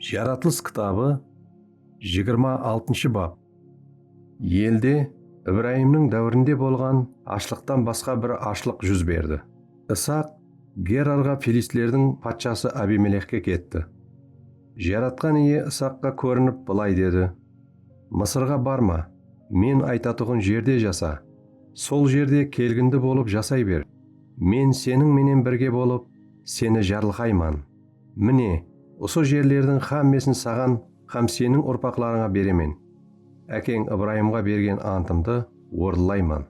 Jaratılıs kitabı jigirma altınshı bap. Elde Ibrayimniń dáwirinde bolǵan ashlıqtan basqa bir ashlıq júz berdi. Isaq Gerarǵa filistlerdiń patshası Abimelexke ketti. Jaratqan Iye Isaqqa kórinip bılay dedi, Mısırǵa barma, Men aytatuǵın jerde jasa, sol jerde kelgindi bolıp jasay ber, Men seniń menen birge bolıp, seni jarılqayman. Mine, usı jerlerdiń xámmesin saǵan hám seniń urpaqlarıńa beremen. Ákeń Ibrayımǵa bergen antımdı orınlayman.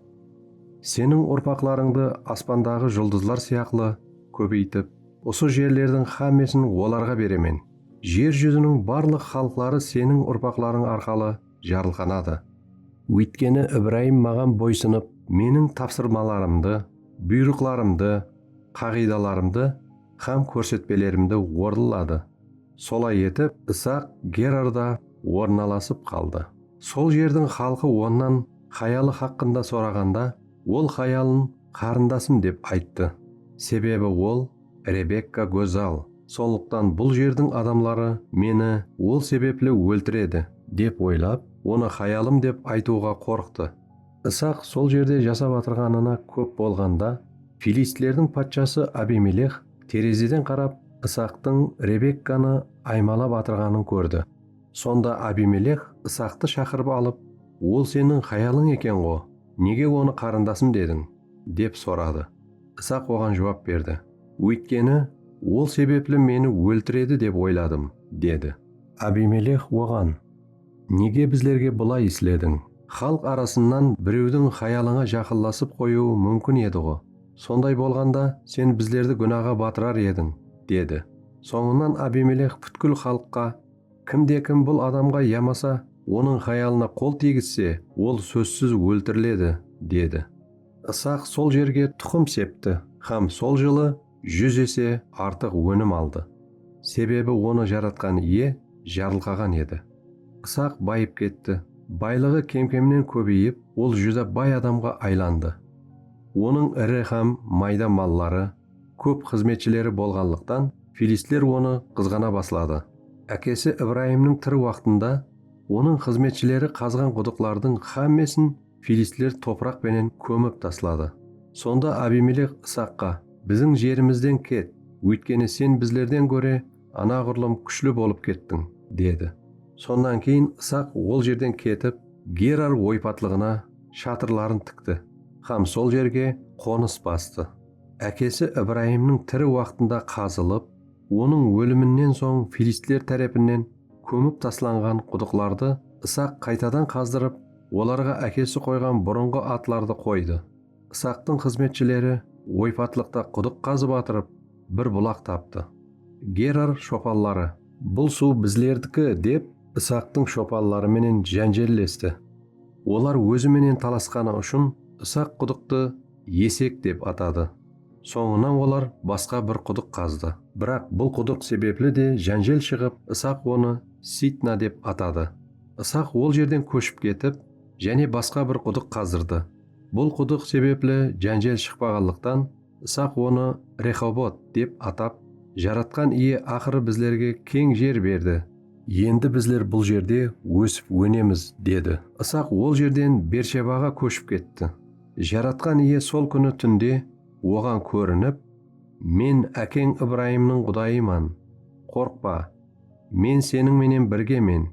Seniń urpaqlarıńdı aspandaǵı juldızlar sıyaqlı kóbeytip, usı jerlerdiń xámmesin olarǵa beremen. Jer júziniń barlıq xalıqları seniń urpaqlarıń arqalı jarılqanadı. Óytkeni Ibrayım Maǵan boysınıp, Meniń tapsırmalarımdı, buyrıqlarımdı, qaǵıydalarımdı hám kórsetpelerimdi orınladı. Solay etip, Isaq Gerarda ornalasıp qaldı. Sol jerdiń xalqı onnan hayalı haqqında soraǵanda, ol hayalın qarındasım dep ayttı. Sebebi ol, Rebekka gózzal, sonlıqtan bul jerdiń adamları meni ol sebepli óltiredi, dep oylap, onı hayalım dep aytıwǵa qorqtı. Isaq sol jerde jasap atırǵanına kóp bolǵanda, filistlerdiń patshası Abimeleh terezeden qarap Isaqtıń Rebekkanı aymalap atırǵanın kórdi. Sonda Abimeleh Isaqtı shaqırıp alıp, Ol seniń hayalıń eken-ǵo, nege onı qarındasım dediń? dep soradı. Isaq oǵan juwap berdi, Óytkeni, ol sebepli meni óltiredi dep oyladım, dedi. Abimeleh oǵan. Nege bizlerge bılay islediń? Xalıq arasınnan birewdiń xayalıńa jaqınlasıp qoyıwı múmkin edi-ǵo. Sonday bolǵanda, sen bizlerdi gúnaǵa batırar ediń, dedi. Sońınan Abimeleh pútkil xalıqqa, Kimde-kim bul adamǵa yamasa onıń xayalına qol tiygizse, ol sózsiz óltiriledi, dedi. Isaq sol jerge tuqım septi hám sol jılı júz ese artıq ónim aldı, sebebi onı Jaratqan Iye jarılqaǵan edi. Isaq bayıp ketti, baylıǵı kem-kemnen kóbeyip, ol júdá bay adamǵa aylandı. Onıń iri hám mayda malları, kóp xızmetshileri bolǵanlıqtan, filistler onı qızǵana basladı. Ákesi Ibrayımnıń tiri waqtında onıń xızmetshileri qazǵan qudıqlardıń hámmesin filistler topıraq penen kómip tasladı. Sonda Abimelek Isaqqa, Biziń jerimizden ket, óytkeni sen bizlerden góre anaǵurlım kúshli bolıp kettiń, dedi. Sonnan keyin Isaq ol jerden ketip, Gerar oypatlıǵına shatırların tikti hám sol jerge qonıs bastı. Ákesi Ibrayımnıń tiri waqtında qazılıp, onıń óliminnen soń filistler tárepinnen kómip taslanǵan qudıqlardı Isaq qaytadan qazdırıp, Olarǵa ákesi qoyǵan burınǵı atlardı qoydı. Isaqtıń xızmetshileri oypatlıqta qudıq qazıp atırıp, bir bulaq taptı. Gerar shopanları. Bul suw bizlerdiki, dep, Isaqtıń shopanları menen jánjellesti. Olar ózi menen talasqanı ushın Isaq qudıqtı Esek dep atadı. Sońınan olar basqa bir qudıq qazdı. Biraq bul qudıq sebepli de jánjel shıǵıp, Isaq onı Sitna dep atadı. Isaq ol jerden kóship ketip, jáne basqa bir qudıq qazırdı. Bul qudıq sebepli jánjel shıqpaǵanlıqtan, Isaq onı Rexobot dep atap, Jaratqan Iye aqırı bizlerge keń jer berdi. Endi bizler bul jerde ósip-ónemiz, dedi. Isaq ol jerden Bershebaǵa kóship ketti. Jaratqan Iye sol kúni túnde oǵan kórinip, Men ákeń Ibrayımnıń Qudayıman. Qorqpa. Men seniń menen birgemen,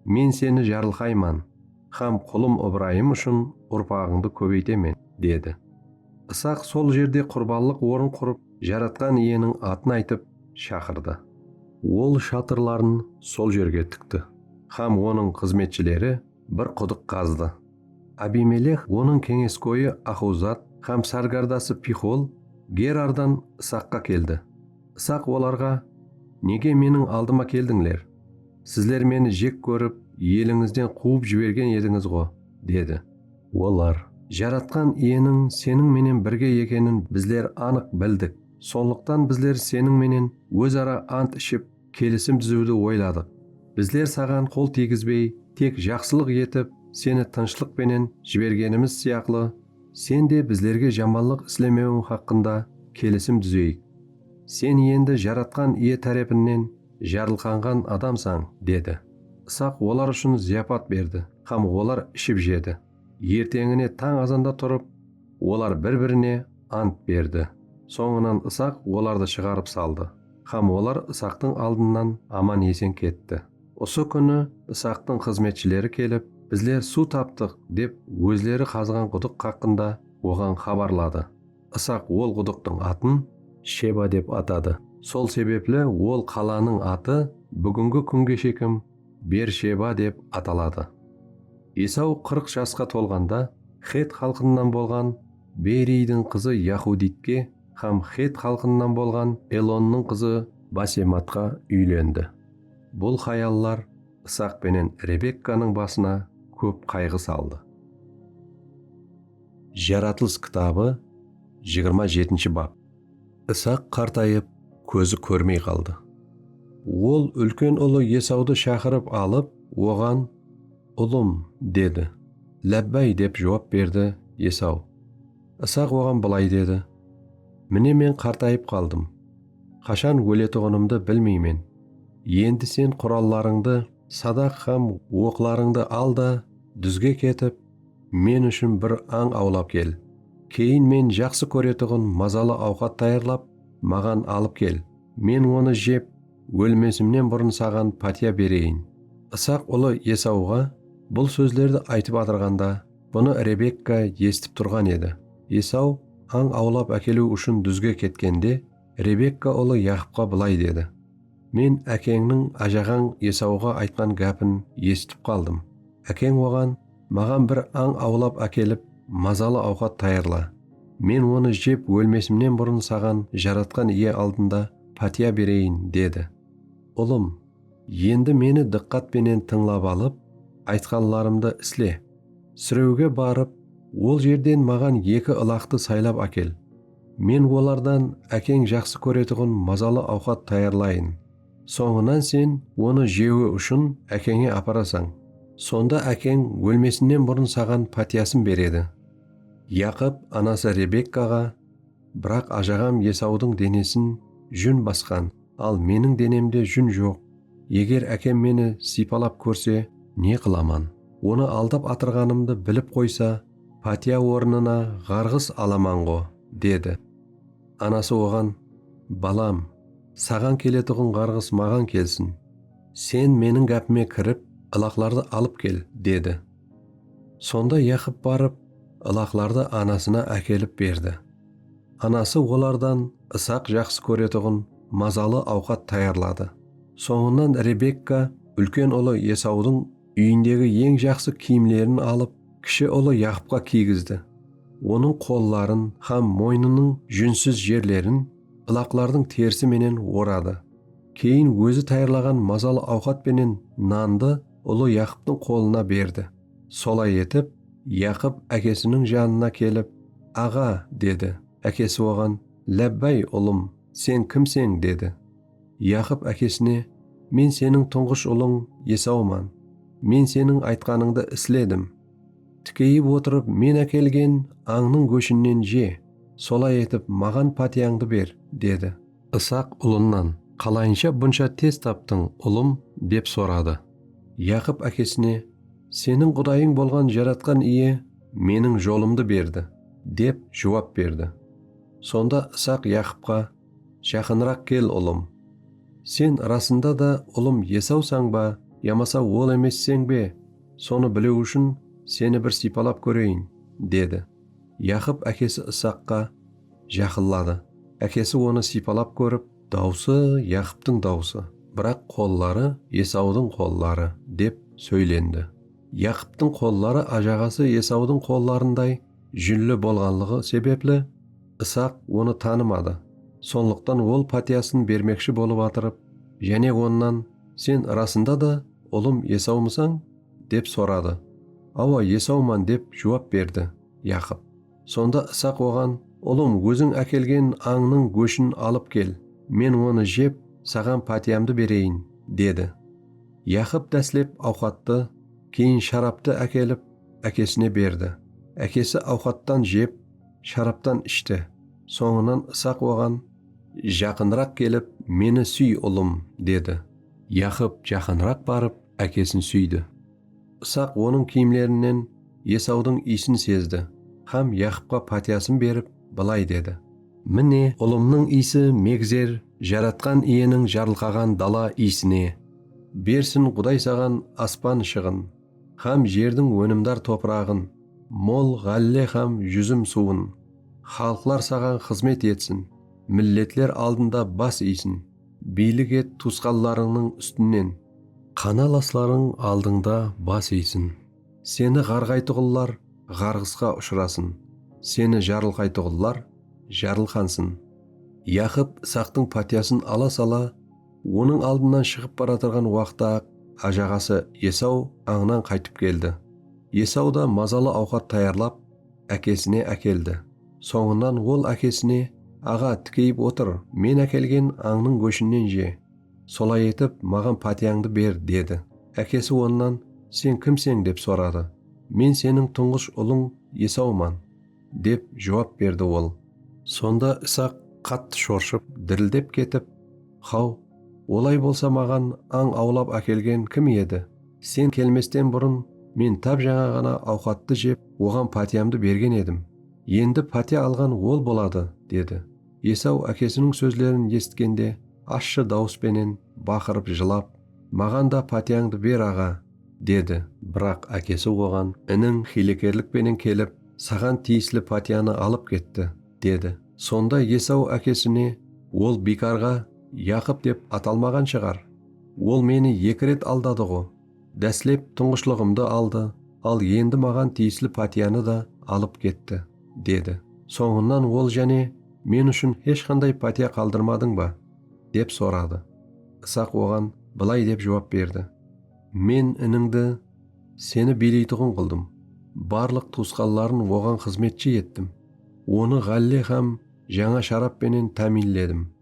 Men seni jarılqayman hám qulım Ibrayım ushın urpaǵıńdı kóbeytemen, dedi. Isaq sol jerde qurbanlıq orın qurıp, Jaratqan Iyeniń atın aytıp, shaqırdı. Ol shatırların sol jerge tikti hám onıń xızmetshileri bir qudıq qazdı. Abimeleh, onıń keńeskoyı Axuzat hám sárgardası Pixol Gerardan Isaqqa keldi. Isaq olarǵa, Nege meniń aldıma keldińler? Sizler meni jek kórip, elińizden quwıp jibergen edińiz-ǵo, dedi. Olar, Jaratqan Iyeniń seniń menen birge ekenin bizler anıq bildik, sonlıqtan bizler seniń menen óz ara ant iship, kelisim dúziwdi oyladıq. Bizler saǵan qol tiygizbey, tek jaqsılıq etip, seni tınıshlıq penen jibergenimiz sıyaqlı, Sen de bizlerge jamanlıq islemewiń haqqında kelisim dúzeyik. Sen endi Jaratqan Iye tárepinnen jarılqanǵan adamsań, dedi. Isaq olar ushın zıyapat berdi hám olar iship-jedi. Erteńine tań azanda turıp, olar bir-birine ant berdi. Sońınan Isaq olardı shıǵarıp saldı hám olar Isaqtıń aldınnan aman-esen ketti. Usı kúni Isaqtıń xızmetshileri kelip, Bizler suw taptıq, dep ózleri qazǵan qudıq xaqqında oǵan xabarladı. Isaq ol qudıqtıń atın. Sheba dep atadı. Sol sebepli ol qalanıń atı búgingi kúnge shekim Ber-Sheba dep ataladı. Esaw qırq jasqa tolǵanda xet xalqınınan bolǵan Beyriydiń qızı Yaxuditke hám xet xalqınınan bolǵan Elonnıń qızı Basematqa úylendi. Bul hayallar Isaq penen Rebekkanıń basına kóp qayǵı saldı. Jaratılıs kitabı jigirma jetinshi bap. Isaq qartayıp, kózi kórmey qaldı. Ol úlken ulı Esawdı shaqırıp alıp, oǵan, Ulım, dedi. Lábbáy, dep juwap berdi Esaw. Isaq oǵan bılay dedi, Mine men qartayıp qaldım. Qashan óletuǵınımdı bilmeymen. Endi sen qurallarıńdı, sadaq hám oqlarıńdı al da, dúzge ketip, men ushın bir ań awlap kel. Keyin men jaqsı kóretuǵın mazalı awqat tayarlap, maǵan alıp kel. Men onı jep, ólmesimnen burın saǵan pátiya bereyin. Isaq ulı Esawǵa bul sózlerdi aytıp atırǵanda, Bunı Rebekka esitip turǵan edi. Esaw ań awlap ákeliw ushın dúzge ketkende, Rebekka ulı Yaqıpqa bılay dedi, Men ákeńniń ájaǵań Esawǵa aytqan gápin esitip qaldım. Ákeń oǵan, Maǵan bir ań awlap ákelip, mazalı awqat tayarla. Men onı jep ólmesimnen burın saǵan Jaratqan Iye aldında pátiya bereyin, dedi. Ulım, Endi meni dıqqat penen tıńlap alıp, aytqanlarımdı isle. Sirewge barıp, ol jerden maǵan eki ılaqtı saylap ákel. Men olardan ákeń jaqsı kóretuǵın mazalı awqat tayarlayın. Sońınan sen onı jewi ushın ákeńe aparasań. Sonda ákeń ólmesinnen burın saǵan pátiyasın beredi. Yaqop anası Rebekkaǵa. Biraq ajaǵam Esawdıń denesin jún basqan, al meniń denemde jún joq. Eger ákem meni sıypalap kórse, ne qılaman? Onı aldap atırǵanımdı bilip qoysa, pátiya ornına ǵarǵıs alaman-ǵo, dedi. Anası oǵan, Balam, saǵan keletuǵın ǵarǵıs maǵan kelsin. Sen meniń gápime kirip, ılaqlardı alıp kel, dedi. Sonda Yaqıp barıp, ılaqlardı anasına ákelip berdi. Anası olardan Isaq jaqsı kóretuǵın mazalı awqat tayarladı. Sońınan Rebekka úlken ulı Esawdıń úyindegi eń jaqsı kiyimlerin alıp, kishi ulı Yaqıpqa kiygizdi. Onıń qolların hám moynınıń júnsiz jerlerin ılaqlardıń terisi menen oradı. Keyin ózi tayarlaǵan mazalı awqat penen nandı ulı Yaqıptıń qolına berdi. Solay etip, Yaqıp ákesiniń janına kelip, Aǵa, dedi. Ákesi oǵan, Lábbáy, ulım, sen kimseń? dedi. Yaqıp ákesine, Men seniń tuńǵısh ulıń Esawman. Men seniń aytqanıńdı isledim. Tikeyip otırıp men ákelgen ańnıń góshinnen je, solay etip, maǵan pátiyańdı ber, dedi. Isaq ulınnan, Qalayınsha bunsha tez taptıń, ulım? dep soradı. Yaqıp ákesine, Seniń Qudayıń bolǵan Jaratqan Iye meniń jolımdı berdi, dep juwap berdi. Sonda Isaq Yaqıpqa, Jaqınıraq kel, ulım. Sen rasında da ulım Esawsań ba yamasa ol emesseń be, sonı biliw ushın seni bir sıypalap kóreyin, dedi. Yaqıp ákesi Isaqqa, Jaqınladı. Ákesi onı sıypalap kórip, Dawısı Yaqıptıń dawısı, biraq qolları Esawdıń qolları, dep sóylendi. Yaqıptıń qolları ájaǵası Esawdıń qollarınday júnli bolǵanlıǵı sebepli, Isaq onı tanımadı. Sonlıqtan ol pátiyasın bermekshi bolıp atırıp, jáne onnan, Sen ırasında da ulım Esawmısań? dep soradı. Awa, Esawman, dep juwap berdi Yaqıp. Sonda Isaq oǵan, Ulım, óziń ákelgen ańnıń góshin alıp kel, men onı jep, saǵan pátiyamdı bereyin, dedi. Yaqıp dáslep awqattı, keyin sharaptı ákelip, ákesine berdi. Ákesi awqattan jep, sharaptan ishti. Sońınan Isaq oǵan, Jaqınıraq kelip, meni súy, ulım, dedi. Yaqıp jaqınıraq barıp, ákesin súydi. Isaq onıń kiyimlerinen Esawdıń iysin sezdi hám Yaqıpqa pátiyasın berip, bılay dedi. Mine, ulımnıń iysi megzer Jaratqan Iyeniń jarılqaǵan dala iyisine. Bersin Quday saǵan aspan shıǵın hám jerdiń ónimdar topıraǵın, mol ǵálle hám júzim suwın. Xalıqlar saǵan xızmet etsin, milletler aldında bas iysin. Biylik et tuwısqanlarıńnıń ústinen. Qanalaslarıń aldıńda bas iysin. Seni ǵarǵaytuǵınlar ǵarǵısqa ushırasın, seni jarılqaytuǵınlar jarılqansın. Yaqıp Isaqtıń pátiyasın ala sala, onıń aldınan shıǵıp baratırǵan waqtı-aq ájaǵası Esaw ańnan qaytıp keldi. Esaw da mazalı awqat tayarlap, ákesine ákeldi. Sońınan ol ákesine, Aǵa, tikeyip otır, men ákelgen ańnıń góshinen je. Solay etip, maǵan pátiyańdı ber, dedi. Ákesi onnan, Sen kimseń? dep soradı. Men seniń tuńǵısh ulıń Esawman, dep juwap berdi ol. Sonda Isaq qattı shorshıp, dirildep ketip. Xaw, olay bolsa maǵan ań awlap ákelgen kim edi? Sen kelmesten burın men tap jańa ǵana awqattı jep, oǵan pátiyamdı bergen edim. Endi pátiya alǵan ol boladı, dedi. Esaw ákesiniń sózlerin esitkende ashshı dawıs penen baqırıp jılap, Maǵan da pátiyańdı ber, aǵa! dedi. Biraq ákesi oǵan, Iniń xiylekerlik penen kelip, saǵan tiyisli pátiyanı alıp ketti. Dedi. Sonda Esaw ákesine, Ol biykarǵa Yaqıp dep atalmaǵan shıǵar? Ol meni eki ret aldadı-ǵo. Dáslep tuńǵıshlıǵımdı aldı, al endi maǵan tiyisli pátiyanı da alıp ketti, dedi. Sońınan ol jáne, Men ushın hesh qanday pátiya qaldırmadıń ba? dep soradı. Isaq oǵan bılay dep juwap berdi, Men inińdi seni biyleytuǵın qıldım, barlıq tuwısqanların oǵan xızmetshi ettim. Onı ǵálle hám jańa sharap penen támiyinledim.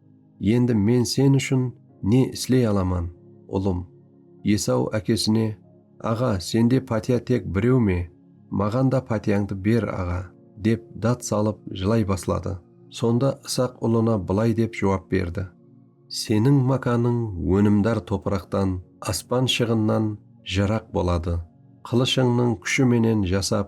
Endi men sen ushın ne isley alaman, ulım? Esaw ákesine, Aǵa, sende pátiya tek birew me? Maǵan da pátiyańdı ber, aǵa, dep dát salıp jılay basladı. Sonda Isaq ulına bılay dep juwap berdi. Seniń mákanıń ónimdar topıraqtan, aspan shıǵınnan jıraq boladı. Qılıshıńnıń kúshi menen jasap,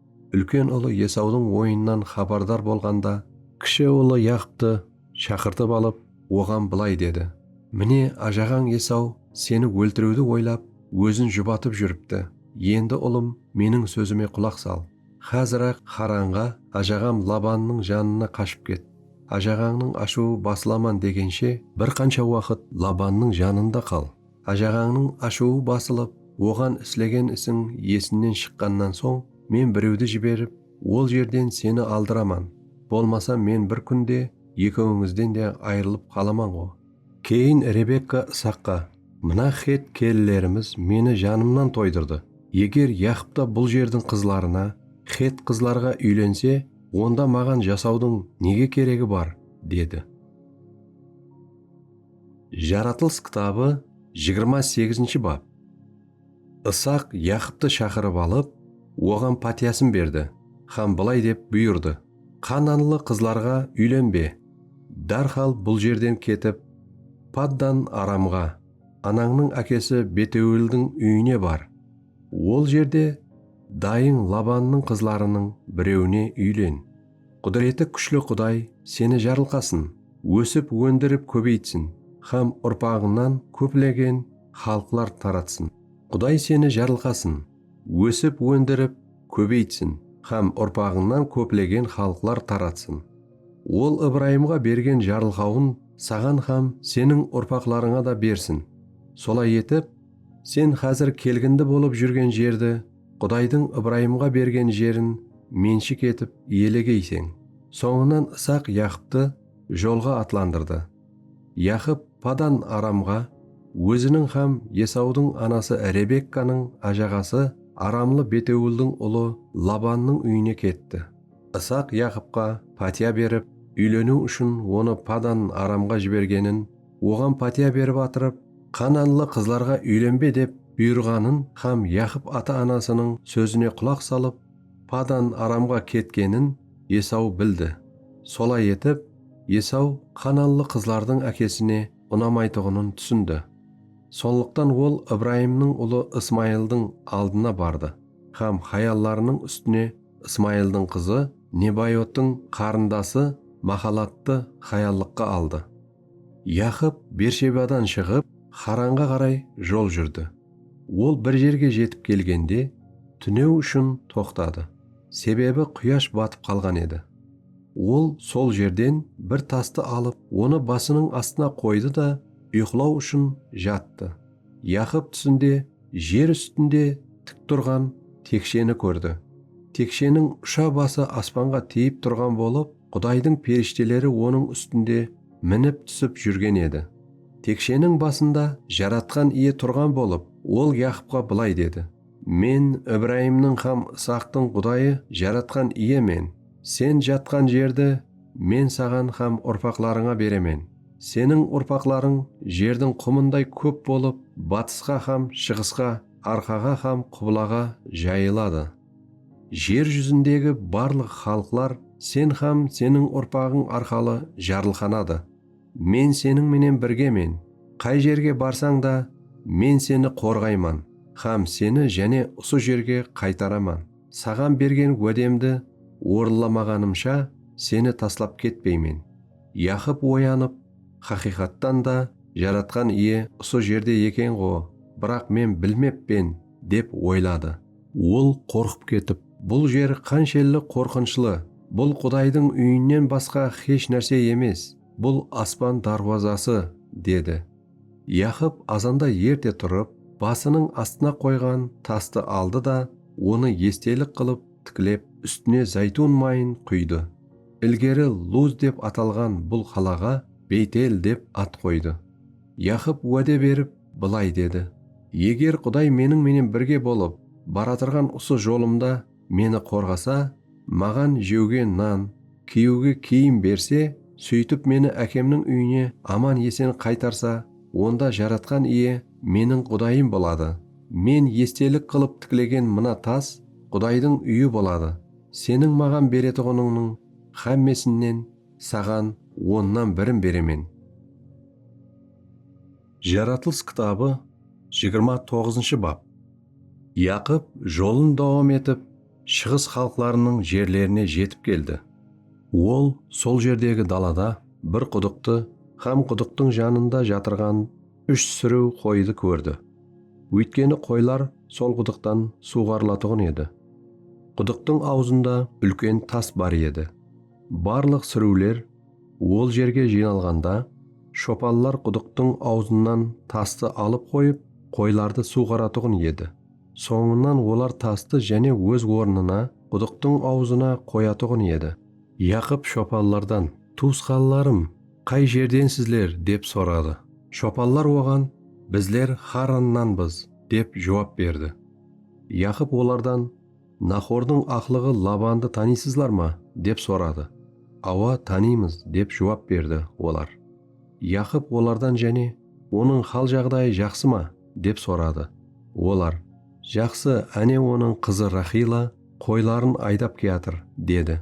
úlken ulı Esawdıń oyınınan xabardar bolǵanda, kishi ulı Yaqıptı shaqırtıp alıp, oǵan bılay dedi, Mine, ajaǵań Esaw seni óltiriwdi oylap, ózin jubatıp júripti, endi, ulım, meniń sózime qulaq sal, xázir-aq Xaranǵa, ajaǵam Labannıń janına qashıp ket, ajaǵańnıń ashıwı basılaman degenshe, bir qansha waqıt Labannıń janında qal. Ájaǵańnıń ashıwı basılıp, oǵan islegen isiń esinnen shıqqannan soń, men birewdi jiberip, ol jerden seni aldıraman, bolmasa men bir kún de ekewińizden de ayrılıp qalaman-ǵo. Keyin Rebekka Isaqqa, Mına xett kelinlerimiz meni janımnan toydırdı. Eger Yaqıp ta bul jerdiń qızlarına, xett qızlarǵa úylense, onda maǵan jasawdıń nege keregi bar? dedi. Jaratılıs kitabı jigirma segizinshi bap. Isaq Yaqıptı shaqırıp alıp, oǵan pátiyasın berdi hám bılay dep buyırdı, Qananlı qızlarǵa úylenbe, dárhal bul jerden ketip, Paddan Aramǵa, anańnıń ákesi Beteuildiń úyine bar. Ol jerde dayıń Labannıń qızlarınıń birewine úylen. Qúdireti kúshli Quday seni jarılqasın, ósip óndirip kóbeytsin hám urpaǵıńnan kóplegen xalıqlar taratsın. Quday seni jarılqasın, ósip óndirip kóbeytsin hám urpaǵıńnan kóplegen xalıqlar taratsın. Ol Ibrayımǵa bergen jarılqauın saǵan hám seniń urpaqlarıńa da bersin. Solay etip, sen xázir kelgindi bolıp júrgen jerdi Qudaydıń Ibrayımǵa bergen jerin menshik etip iyelegeyseń. Sońınan Isaq Yaqıptı jolǵa atlandırdı. Yaqıp Padan Aramǵa óziniń hám Esawdıń anası Rebekkanıń ájaǵası aramlı Betewıldıń ulı Labannıń úyine ketti. Isaq Yaqıpqa pátiya berip, úyleniw ushın onı Padan Aramǵa jibergenin oǵan pátiya berip atırıp, Qananlı qızlarǵa úylenbe dep buyırǵanın hám Yaqıp ata-anasınıń sózine qulaq salıp, Padan Aramǵa ketkenin Esaw bildi. Solay etip, Esaw qananlı qızlardıń ákesine unamaytuǵının túsindi. Sonlıqtan ol Ibrayımnıń ulı Ismayıldıń aldına bardı hám hayallarınıń ústine Ismayıldıń qızı Nebayottıń qarındası Maxalattı hayallıqqa aldı. Yaqıp Bershebadan shıǵıp, Xaranǵa qaray jol júrdi. Ol bir jerge jetip kelgende, túnew ushın toqtadı, sebebi quyash batıp qalǵan edi. Ol sol jerden bir tastı alıp, onı basınıń astına qoydı da, uyqılaw ushın jattı. Yaqıp túsinde jer ústinde tik turǵan teksheni kórdi. Teksheniń usha bası aspanǵa tiyip turǵan bolıp, Qudaydıń perishteleri onıń ústinde minip-túsip júrgen edi. Teksheniń basında Jaratqan Iye turǵan bolıp, Ol Yaqıpqa bılay dedi, Men Ibrayımnıń hám Isaqtıń Qudayı Jaratqan Iye men. Sen jatqan jerdi Men saǵan hám urpaqlarıńa beremen. Seniń urpaqlarıń jerdiń qumınday kóp bolıp, batısqa hám shıǵısqa, arqaǵa hám qublaǵa jayıladı. Jer júzindegi barlıq xalıqlar sen hám seniń urpaǵıń arqalı jarılqanadı. Men seniń menen birgemen, qay jerge barsań da, Men seni qorǵayman hám seni jáne usı jerge qaytaraman, saǵan bergen wádemdi orınlamaǵanımsha seni taslap ketpeymen. Yaqıp oyanıp, Haqıyqattan da, Jaratqan Iye usı jerde eken-ǵo, biraq men bilmeppen, dep oyladı. Ol qorqıp ketip, Bul jer qanshelli qorqınshlı! Bul Qudaydıń úyinen basqa xesh nárse emes, bul aspan dárwazası! dedi. Yaqıp azanda erte turıp, basınıń astına qoyǵan tastı aldı da, onı estelik qılıp tiklep, ústine záytun mayın quydı. Ilgeri Luz dep atalǵan bul qalaǵa Beytel dep at qoydı. Yaqıp wáde berip, bılay dedi, Eger Quday meniń menen birge bolıp, baratırǵan usı jolımda meni qorǵasa, maǵan jewge nan, kiyiwge kiyim berse, sóytip meni ákemniń úyine aman-esen qaytarsa, onda Jaratqan Iye meniń Qudayım boladı. Men estelik qılıp tiklegen mına tas Qudaydıń úyi boladı. Seniń maǵan beretuǵınıńnıń hámmesinen Saǵan onnan birin beremen. Jaratılıs kitabı jigirma toǵızınshı bap. Yaqıp jolın dawam etip, shıǵıs xalıqlarınıń jerlerine jetip keldi. Ol sol jerdegi dalada bir qudıqtı hám qudıqtıń janında jatırǵan úsh súriw qoyıdı kórdi. Óytkeni qoylar sol qudıqtan suwǵarılatuǵın edi. Qudıqtıń awzında úlken tas bar edi. Barlıq súriwler ol jerge jıynalǵanda, shopanlar qudıqtıń awzınan tastı alıp qoyıp, qoylardı suwǵaratuǵın edi. Sońınan olar tastı jáne óz ornına, qudıqtıń awzına qoyatuǵın edi. Yaqıp shopanlardan, Tuwısqanlarım, qay jerdensizler? dep soradı. Shopanlar oǵan, Bizler Xarrannanbız, dep juwap berdi. Yaqıp olardan, Naxordıń aqlıǵı Labandı tanıysızlar ma? dep soradı. Awa, tanıymız, dep juwap berdi olar. Yaqıp olardan jáne, Onıń hal-jaǵdayı jaqsı ma? dep soradı. Olar, Jaqsı, áne onıń qızı Raxila qoyların aydap kiyatır, dedi.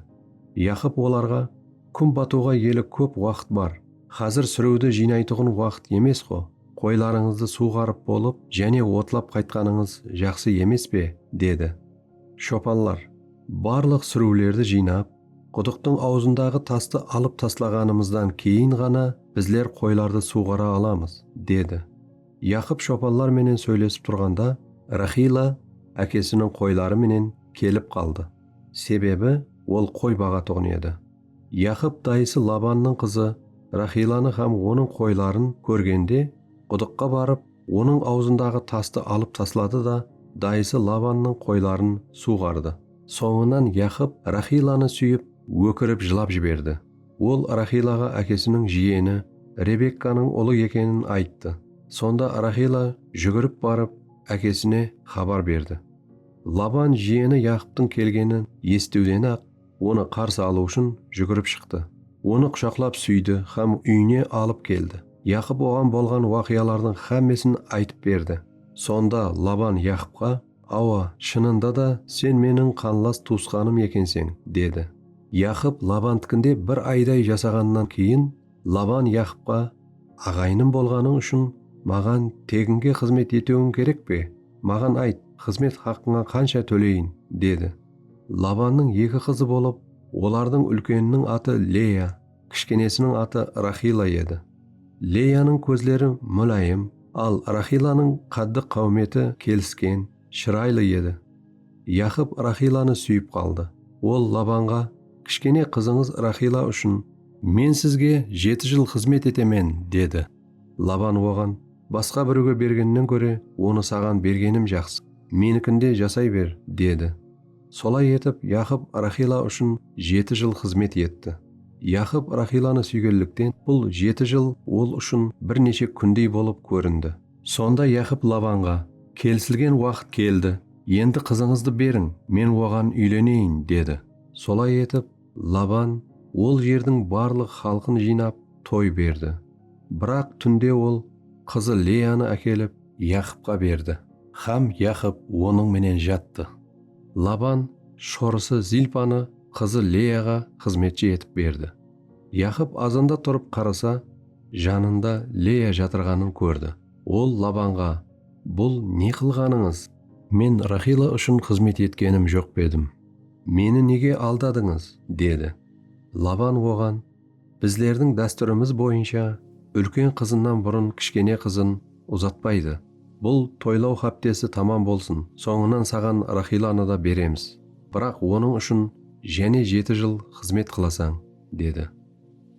Yaqıp olarǵa, Kún batıwǵa eli kóp waqıt bar, xázir súriwdi jıynaytuǵın waqıt emes-ǵo. Qoylarıńızdı suwǵarıp bolıp, jáne otlap qaytqanıńız jaqsı emes pe? dedi. Shopanlar, Barlıq súriwlerdi jıynap, qudıqtıń awzındaǵı tastı alıp taslaǵanımızdan keyin ǵana bizler qoylardı suwǵara alamız, dedi. Yaqıp shopanlar menen sóylesip turǵanda, Raxila ákesiniń qoyları menen kelip qaldı. Sebebi, ol qoy baǵatuǵın edi. Yaqıp dayısı Labannıń qızı Raxillanı hám onıń qoyların kórgende, qudıqqa barıp, onıń awzındaǵı tastı alıp tasladı da, dayısı Labannıń qoyların suwǵardı. Sońınan Yaqıp Raxillanı súyip, ókirip jılap jiberdi. Ol Raxillaǵa ákesiniń jiyeni Rebekkanıń ulı ekenin ayttı. Sonda Raxilla júgirip barıp, ákesine xabar berdi. Laban jiyeni Yaqıptıń kelgenin esitiwden-aq, Onı qarsı alıw ushın júgirip shıqtı. Onı qushaqlap súydi hám úyine alıp keldi. Yaqıp oǵan bolǵan waqıyalardıń hámmesin aytıp berdi. Sonda Laban Yaqıpqa, Awa, shınında da sen meniń qanlas tuwısqanım ekenseń, dedi. Yaqıp Labantıkinde bir ayday jasaǵannan keyin, Laban Yaqıpqa, Aǵayınım bolǵanıń ushın maǵan teginge xızmet etewin kerek pe? Maǵan ayt, xızmet haqqıńa qansha tóleyin? dedi. Labannıń eki qızı bolıp, olardıń úlkeniniń atı Leya, kishkenesiniń atı Raxila edi. Leyanıń kózleri múláyim, al Raxilanıń qáddi-qáwmeti kelisken, shıraylı edi. Yaqıp Raxilanı súyip qaldı. Ol Labanǵa, Kishkene qızıńız Raxila ushın, men sizge jeti jıl xızmet etemen, dedi. Laban oǵan, Basqa birewge bergennen kóre, onı saǵan bergenim jaqsı, menikinde jasay ber, dedi. Solay etip, Yaqıp Raxila ushın jeti jıl xızmet etti. Yaqıp Raxilanı súygenlikten bul jeti jıl ol ushın bir neshe kúndey bolıp kórindi. Sonda Yaqıp Labanǵa, Kelisilgen waqıt keldi, endi qızıńızdı beriń, men oǵan úyleneyin, dedi. Solay etip, Laban ol jerdiń barlıq xalqın jıynap, toy berdi. Biraq túnde ol qızı Leyanı ákelip, Yaqıpqa berdi. Hám Yaqıp onıń menen jattı. Laban shorısı Zilpanı qızı Leyaǵa xızmetshi etip berdi. Yaqıp azanda turıp qarasa, janında Leya jatırǵanın kórdi. Ol Labanǵa, Bul ne qılǵanıńız? Men Raxila ushın xızmet etkenim joq pa edim? Meni nege aldadıńız? dedi. Laban oǵan, Bizlerdiń dástúrimiz boyınsha, úlken qızınnan burın kishkene qızın uzatpaydı. Bul toylaw háptesi tamam bolsın, sońınan saǵan Raxillanı da beremiz. Biraq onıń ushın jáne jeti jıl xızmet qılasań, dedi.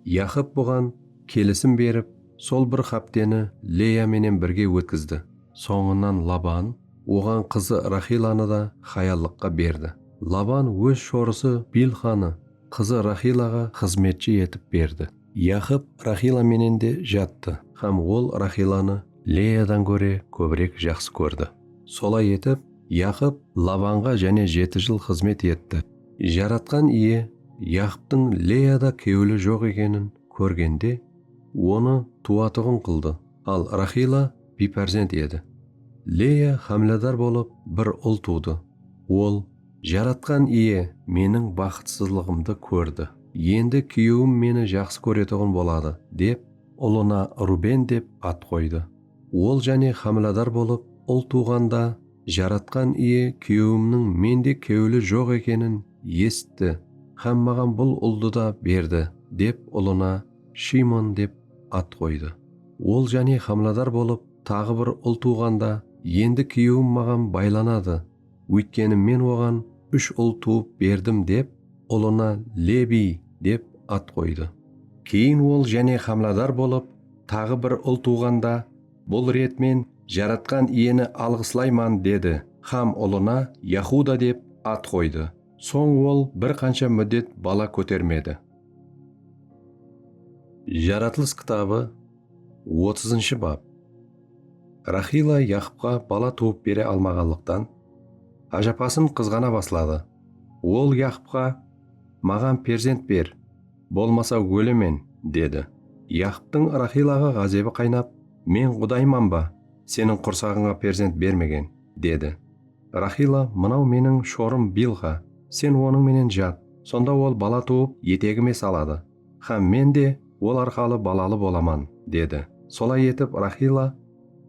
Yaqıp buǵan kelisim berip, sol bir hápteni Leya menen birge ótkizdi. Sońınan Laban oǵan qızı Raxillanı da hayallıqqa berdi. Laban óz shorısı Bilxanı qızı Raxillaǵa xızmetshi etip berdi. Yaqıp Raxilla menen de jattı. Hám ol Raxillanı Leyadan góre kóbirek jaqsı kórdi. Solay etip, Yaqıp Labanǵa jáne jeti jıl xızmet etti. Jaratqan Iye Yaqıptıń Leyada kewli joq ekenin kórgende, onı tuwatuǵın qıldı, al Raxilla biypárzent edi. Leya hámladar bolıp bir ul tuwdı. Ol, Jaratqan Iye meniń baxıtsızlıǵımdı kórdi. Endi kúyewim meni jaqsı kóretuǵın boladı, dep, ulına Ruben dep at qoydı. Ol jáne hámladar bolıp ul tuwǵanda, Jaratqan Iye kúyewimniń mende kewli joq ekenin esitti hám maǵan bul uldı da berdi, dep, ulına Shimon dep at qoydı. Ol jáne xamladar bolıp taǵı bir ul tuwǵanda endi kúyewim maǵan baylanadı, óytkeni men oǵan úsh ul tuwıp berdim dep ulına Lebiy dep at qoydı. Keyin ol jáne xamladar bolıp taǵı bir ul tuwǵanda bul ret men Jaratqan Iyeni alǵıslayman dedi xam ulına Yahuda dep at qoydı. Soń ol bir qansha múddet bala kótermedi. Jaratılıs kitabı otızınshı bap. Raxila Yaqıpqa bala tuwıp bere almaǵanlıqtan, ájapasın qızǵana basladı. Ol Yaqıpqa, Maǵan perzent ber, bolmasa ólemen, dedi. Yaqıptıń Raxilaǵa ǵázebi qaynap, Men qudayman ba, seniń qursaǵıńa perzent bermegen, dedi. Raxila, mınau meniń shorım Bilxa, sen onıń menen jat, sonda ol bala tuwıp, etegime saladı hám men de ol arqalı balalı bolaman, dedi. Solay etip, Raxila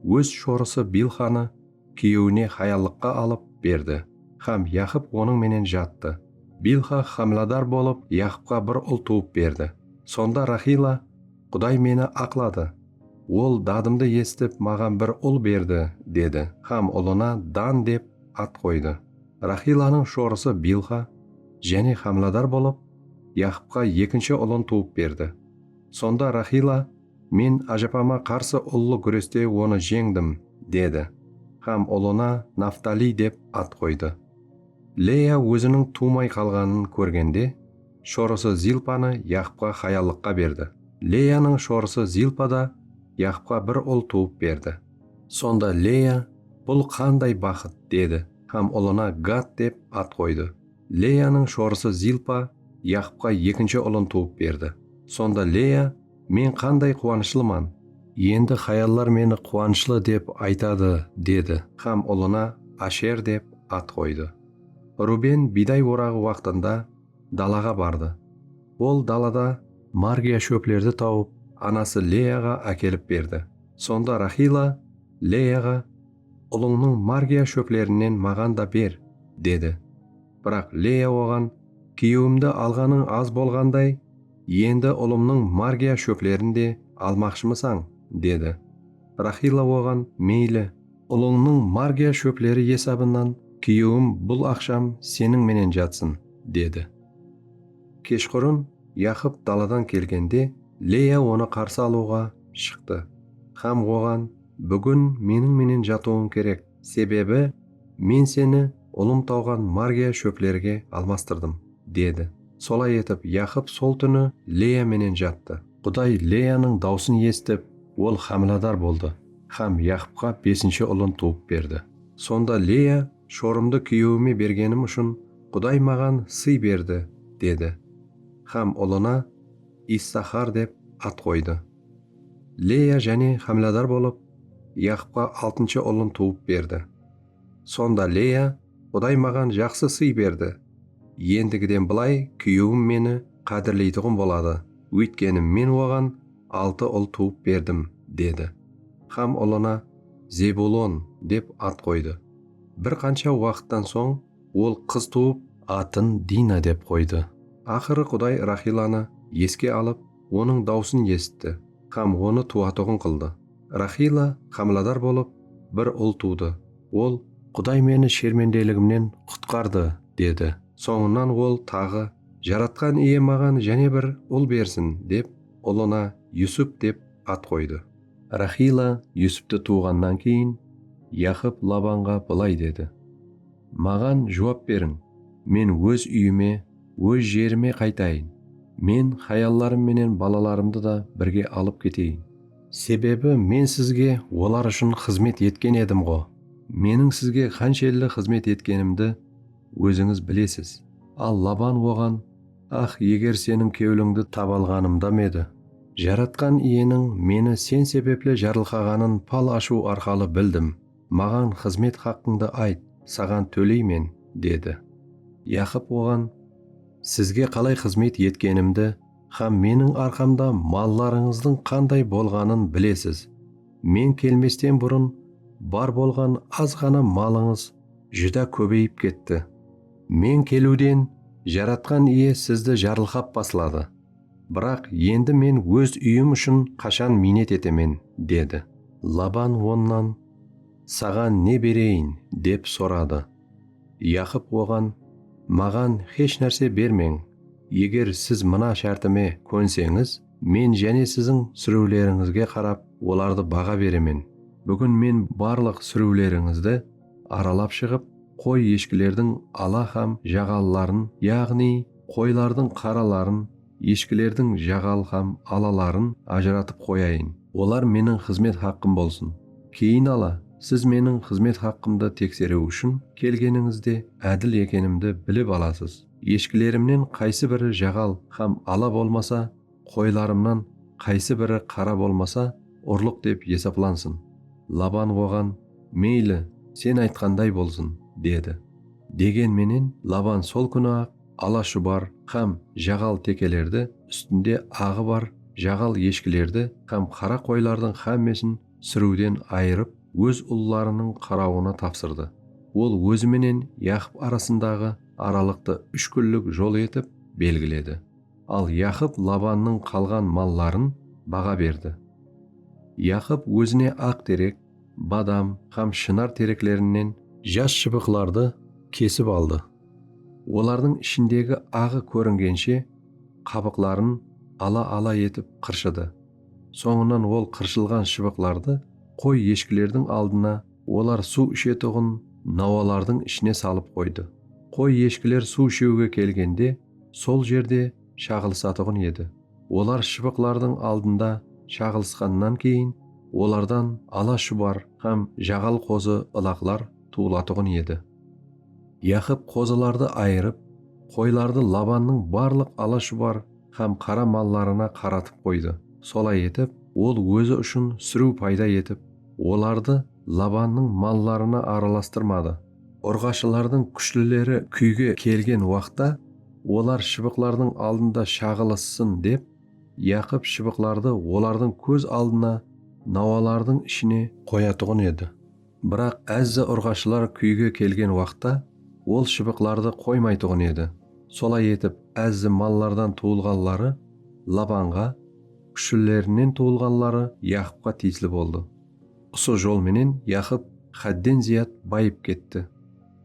óz shorısı Bilxanı kúyewine hayallıqqa alıp berdi hám Yaqıp onıń menen jattı. Bilxa hámiladar bolıp, Yaqıpqa bir ul tuwıp berdi. Sonda Raxila. Quday meni aqladı. Ol dadımdı esitip, maǵan bir ul berdi, dedi hám ulına Dan dep at qoydı. Raxilanıń shorısı Bilxa jáne hámladar bolıp, Yaqıpqa ekinshi ulın tuwıp berdi. Sonda Raxila, Men ájapama qarsı ullı gúreste onı jeńdim, dedi hám ulına Naftaliy dep at qoydı. Leya óziniń tuwmay qalǵanın kórgende, shorısı Zilpanı Yaqıpqa hayallıqqa berdi. Leyanıń shorısı Zilpa da Yaqıpqa bir ul tuwıp berdi. Sonda Leya, Bul qanday baxıt! dedi hám ulına Gad dep at qoydı. Leyanıń shorısı Zilpa Yaqıpqa ekinshi ulın tuwıp berdi. Sonda Leya, Men qanday quwanıshlıman! Endi hayallar meni quwanıshlı dep aytadı, dedi hám ulına Asher dep at qoydı. Ruben biyday oraǵı waqtında dalaǵa bardı. Ol dalada margiya shóplerdi tawıp, anası Leyaǵa ákelip berdi. Sonda Raxila Leyaǵa, Ulıńnıń margiya shóplerinen maǵan da ber, dedi. Biraq Leya oǵan, Kúyewimdi alǵanıń az bolǵanday, endi ulımnıń margiya shóplerin de almaqshımısań? dedi. Raxila oǵan, Meyli. Ulıńnıń margiya shópleri esabınan kúyewim bul aqsham seniń menen jatsın, dedi. Keshqurın Yaqıp daladan kelgende Leya onı qarsı alıwǵa shıqtı hám oǵan Búgin meniń menen jatıwıń kerek, sebebi men seni ulım tawǵan margiya shóplerige almastırdım, dedi. Solay etip Yaqıp sol túni Leya menen jattı. Quday Leyanıń dawsın esitip, ol hámiladar boldı Hám Yaqıpqa besinshi ulın tuwıp berdi. Sonda Leya, Shorımdı kúyewime bergenim ushın Quday maǵan sıy berdi, dedi. Hám ulına Issaxar dep at qoydı. Leya jáne hámladar bolıp, Yaqıpqa altınshı ulın tuwıp berdi. Sonda Leya. Quday maǵan jaqsı sıy berdi. Endigiden bılay kúyewim meni qádirleytuǵın boladı, óytkeni men oǵan altı ul tuwıp berdim, dedi. Xam ulına Zebulon dep at qoydı. Bir qansha waqıttan soń ol qız tuwıp, atın Dina dep qoydı Aqırı Quday Raxilanı eske alıp onıń dawısın esitti xam onı tuwatuǵın qıldı. Raxila xamiladar bolıp bir ul tuwdı. Ol, Quday meni shermendeligimnen qutqardı, dedi. Sońınan ol taǵı, Jaratqan Iye maǵan jáne bir ul bersin, dep, ulına Yusup dep at qoydı. Raxila Yusuptı tuwǵannan keyin, Yaqıp Labanǵa bılay dedi, Maǵan juwap beriń, men óz úyime, óz jerime qaytayın, men hayallarım menen balalarımdı da birge alıp keteyin. Sebebi Men sizge olar ushın xızmet etken edim-ǵo. Meniń sizge qanshelli xızmet etkenimdi ózińiz bilesiz. Al Laban oǵan, Ax, eger seniń kewlińdi taba alǵanımda me edi! Jaratqan Iyeniń meni sen sebepli jarılqaǵanın pal ashıw arqalı bildim. Maǵan xızmet haqqıńdı ayt, saǵan tóleymen, dedi. Yaqıp oǵan, Sizge qalay xızmet etkenimdi Hám Meniń arqamda mallarıńızdıń qanday bolǵanın bilesiz. Men kelmesten burın bar bolǵan az ǵana malıńız júdá kóbeyip ketti. Men keliwden Jaratqan Iye sizdi jarılqap basladı. Biraq endi men óz úyim ushın qashan miynet etemen? dedi. Laban onnan, Saǵan ne bereyin? dep soradı. Yaqıp oǵan, Maǵan hesh nárse bermeń, eger siz mına shártime kónseńiz, men jáne siziń súriwlerińizge qarap olardı baǵa beremen. Búgin men barlıq súriwlerińizdi aralap shıǵıp, qoy-eshkilerdiń ala hám jaǵalıların, yaǵnıy, qoylardıń qaraların, Eshikilerdiń jaǵal hám alaların ajıratıp qoyayın. Olar meniń xızmet haqqım bolsın. Keyin ala, siz meniń xızmet haqqımdı tekseriw ushın kelgenińizde ádil ekenimdi bilip alasız. Eshikilerimnen qaysı biri jaǵal hám ala bolmasa, qoylarımnan qaysı biri qara bolmasa, urlıq dep esaplansın. Laban oǵan, Meyli, sen aytqanday bolsın, dedi. Degen menen, Laban sol kúni-aq ala shubar hám jaǵal tekelerdi, ústinde aǵı bar jaǵal eshkilerdi hám qara qoylardıń hámmesin súriwden ayırıp, óz ullarınıń qarawına tapsırdı. Ol ózi menen Yaqıp arasındaǵı aralıqtı úsh kúnlik jol etip belgiledi. Al Yaqıp Labannıń qalǵan malların baǵa berdi. Yaqıp ózine aq terek, badam hám shınar tereklerinen jas shıbıqlardı kesip aldı. Olardıń ishindegi aǵı kóringenshe qabıqların ala-ala etip qırshıdı. Sońınan ol qırshılǵan shıbıqlardı qoy-eshkilerdiń aldına, olar suw ishetuǵın nawalardıń ishine salıp qoydı. Qoy-eshkiler suw ishewge kelgende sol jerde shaǵılısatuǵın edi. Olar shıbıqlardıń aldında shaǵılısqannan keyin olardan ala shubar hám jaǵal qozı ılaqlar tuwılatuǵın edi. Yaqıp qozılardı ayırıp, qoylardı Labannıń barlıq ala shubar hám qara mallarına qaratıp qoydı, solay etip, ol ózi ushın súriw payda etip, olardı Labannıń mallarına aralastırmadı. Urǵashılardıń kúshlileri kúyge kelgen waqta, olar shıbıqlardıń aldında shaǵılıssın dep, Yaqıp shıbıqlardı olardıń kóz aldına nawalardıń ishine qoyatuǵın edi. Biraq Ezza urǵashılar kúyge kelgen waqta, ol shıbıqlardı qoymaytuǵın edi. Solay etip, Ezzi mallardan tuwılǵanları Labanǵa, kúshlilerinen tuwılǵanları Yaqıpqa tiyisli boldı. Usı jol menen Yaqıp xádden zıyat bayıp ketti.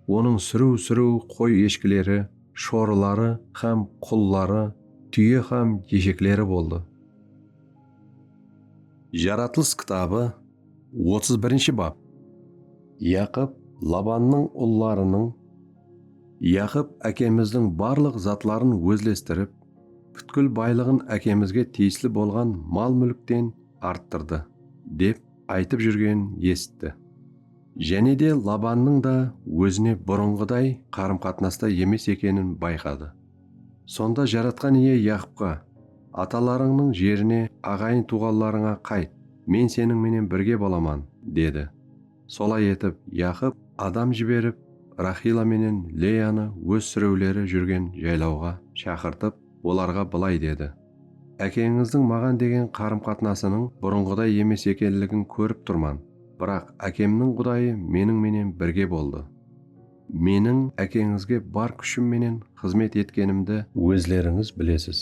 Onıń súriw-súriw qoy-eshkileri, shorıları hám qulları, túye hám eshekleri boldı. Jaratılıs kitabı, otız birinshi bap. Yaqıp Labannıń ullarınıń, Yaqıp ákemizdiń barlıq zatların ózlestirip, pútkil baylıǵın ákemizge tiyisli bolǵan mal-múlkten, arttırdı, dep aytıp júrgenin esitti. Jáne de Labannıń da ózine burınǵıday qarım-qatnasta emes ekenin bayqadı. Sonda Jaratqan Iye Yaqıpqa, Atalarıńnıń jerine, aǵayın-tuwǵanlarıńa qayt, Men seniń menen birge bolaman, dedi. Solay etip, Yaqıp adam jiberip, Raxila menen Leyanı óz súrewleri júrgen jaylawǵa shaqırtıp, olarǵa bılay dedi. Ákeńizdiń maǵan degen qarım-qatnasınıń burınǵıday emes ekenligin kórip turman, biraq ákemniń Qudayı meniń menen birge boldı. Meniń ákeńizge bar kúshim menen xızmet etkenimdi ózlerińiz bilesiz.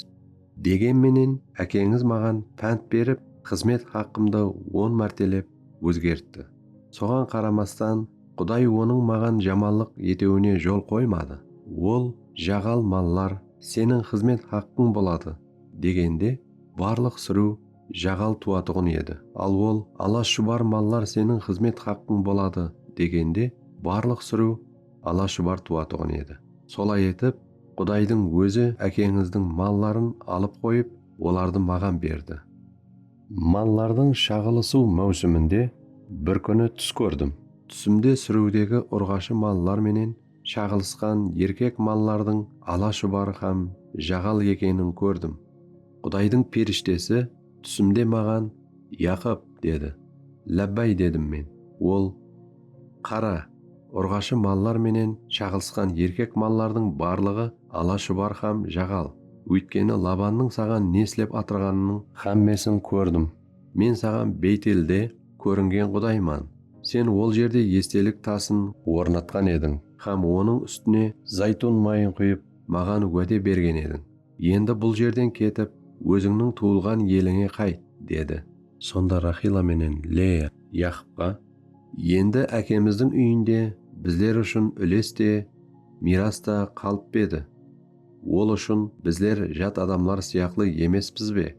Degen menen ákeńiz maǵan pánt berip, xızmet haqqımdı on mártelep ózgertti. Soǵan qaramastan, Quday onıń maǵan jamanlıq etewine jol qoymadı. Ol, Jaǵal mallar seniń xızmet haqqıń boladı, degende, barlıq súriw jaǵal tuwatuǵın edi. Al ol, Ala-shubar mallar seniń xızmet haqqıń boladı, degende, barlıq súriw ala-shubar tuwatuǵın edi. Solay etip, Qudaydıń Ózi ákeńizdiń malların alıp qoyıp, olardı maǵan berdi. Mallardıń shaǵılısıw máwsiminde bir kúni tús kórdim. Túsimde súriwdegi urǵashı mallar menen shaǵılısqan erkek mallardıń ala shubarı hám jaǵal ekenin kórdim. Qudaydıń perishtesi túsimde maǵan, Yaqıp, dedi. Lábbáy, dedim men. Ol, Qara! Urǵashı mallar menen shaǵılısqan erkek mallardıń barlıǵı ala shubar hám jaǵal, óytkeni Labannıń saǵan ne islep atırǵanınıń. Hámmesin kórdim. Men saǵan Beytelde kóringen Qudayman. Sen ol jerde estelik tasın ornatqan ediń hám onıń ústine zaytun mayın quyıp, maǵan wáde bergen ediń. Endi bul jerden ketip, ózińniń tuwılǵan elińe qayt, dedi. Sonda Raxila menen Leya Yaqıpqa, Endi ákemizdiń úyinde bizler ushın úles te, miyras ta qalıp pe edi? Ol ushın bizler jat adamlar sıyaqlı emespız be?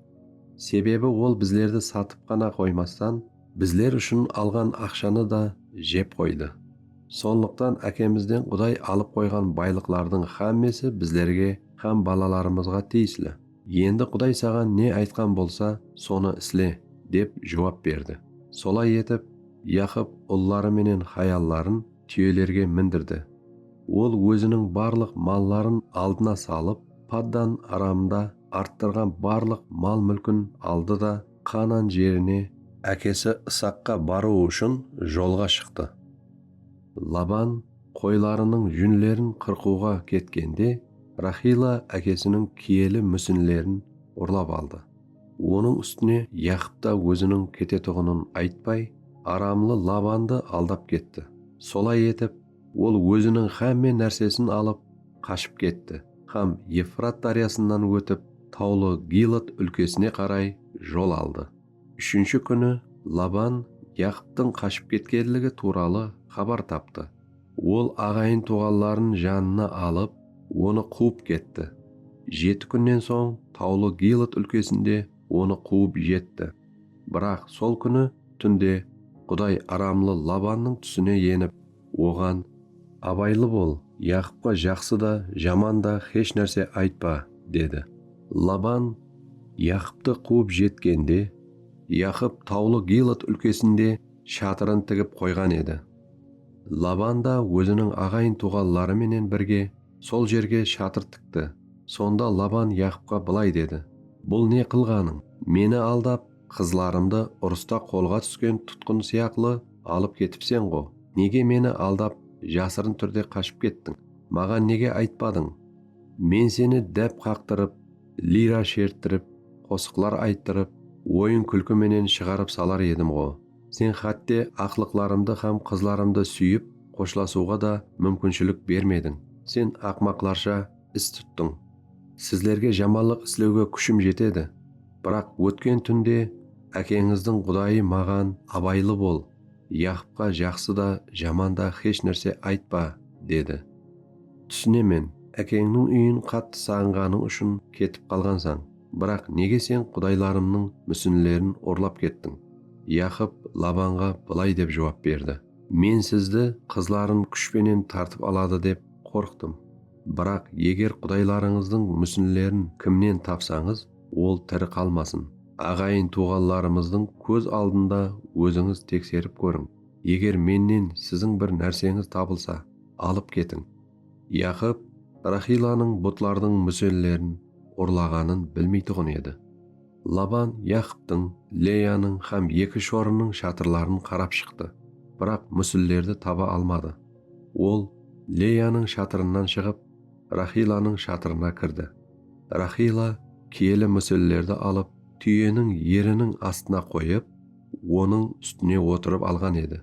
Sebebi ol bizlerdi satıp ǵana qoymastan, bizler ushın alǵan aqshanı da jep qoydı. Sonlıqtan ákemizden Quday alıp qoyǵan baylıqlardıń xámmesi bizlerge Hám balalarımızǵa tiyisli. Endi Quday saǵan ne aytqan bolsa, sonı isle, dep juwap berdi. Solay etip, Yaqıp ulları menen hayalların túyelerge mindirdi. Ol óziniń barlıq malların aldına salıp, Paddan-Aramda arttırǵan barlıq mal-múlkin aldı da, Qaanan jerine, ákesi Isaqqa barıwı ushın jolǵa shıqtı. Laban qoylarınıń júnlerin qırqıwǵa ketkende, Raxila ákesiniń kiyeli músinlerin urlap aldı. Onıń ústine Yaqıp ta óziniń ketetuǵının aytpay, aramlı Labandı aldap ketti. Solay etip, ol óziniń xámme nársesin alıp, qashıp ketti hám Evfrat dáryasınan ótip, tawlı Gilad úlkesine qaray jol aldı. Úshinshi kúni Laban Yaqıptıń qashıp ketkenligi tuwralı xabar taptı. Ol aǵayin-tuwǵanların janına alıp, onı quwıp ketti. Jeti kúnnen soń tawlı Gilot úlkesinde onı quwıp jetti. Biraq sol kúni túnde Quday aramlı Labannıń túsine enip, Oǵan, Abaylı bol, Yaqıpqa jaqsı da, jaman da xesh nárse aytpa, dedi. Laban Yaqıptı quwıp jetkende, Yaqıp tawlı Gilad úlkesinde shatırın tigip qoyǵan edi. Laban da óziniń aǵayin-tuwǵanları menen birge sol jerge shatır tikti. Sonda Laban Yaqıpqa bılay dedi, Bul ne qılǵanıń? Meni aldap, Qızlarımdı urısta qolǵa túsken tutqın sıyaqlı alıp ketipsen-ǵo, nege meni aldap, jasırın túrde qashıp kettiń? Maǵan nege aytpadıń? Men seni dáp qaqtırıp, lira sherttirip, qosıqlar ayttırıp, oyın-kúlki menen shıǵarıp salar edim-ǵo. Sen xátte aqlıqlarımdı hám qızlarımdı súyip xoshlasıwǵa da múmkinshilik bermediń. Sen aqmaqlarsha is tuttıń. Sizlerge jamanlıq islewge kúshim jetedi. Biraq ótken túnde ákeńizdiń Qudayı maǵan, Abaylı bol, Yaqıpqa jaqsı da, jaman da xesh nárse aytpa, dedi. Túsinemen, ákeńniń úyin qattı saǵınǵanıń ushın ketip qalǵansań, biraq nege sen qudaylarımnıń músinlerin urlap kettiń? Yaqıp Labanǵa bılay dep juwap berdi. Men sizdi qızların kúsh penen tartıp aladı dep qorqtım. Biraq eger qudaylarıńızdıń músinlerin kimnen tapsańız, ol tiri qalmasın. Aǵayın-tuwǵanlarımızdıń kóz aldında ózińiz tekserip kóriń. Eger mennen siziń bir nárseńiz tabılsa, alıp ketiń. Yaqıp Raxillanıń butlardıń músellerin urlaǵanın bilmeytuǵın edi. Laban Yaqıptıń, Leyanıń hám eki shorınıń shatırların qarap shıqtı, biraq músillerdi taba almadı. Ol Leyanıń shatırınan shıǵıp. Raxilanıń shatırına kirdi. Raxila kiyeli músellerdi alıp, túyeniń eriniń astına qoyıp, onıń ústine otırıp alǵan edi.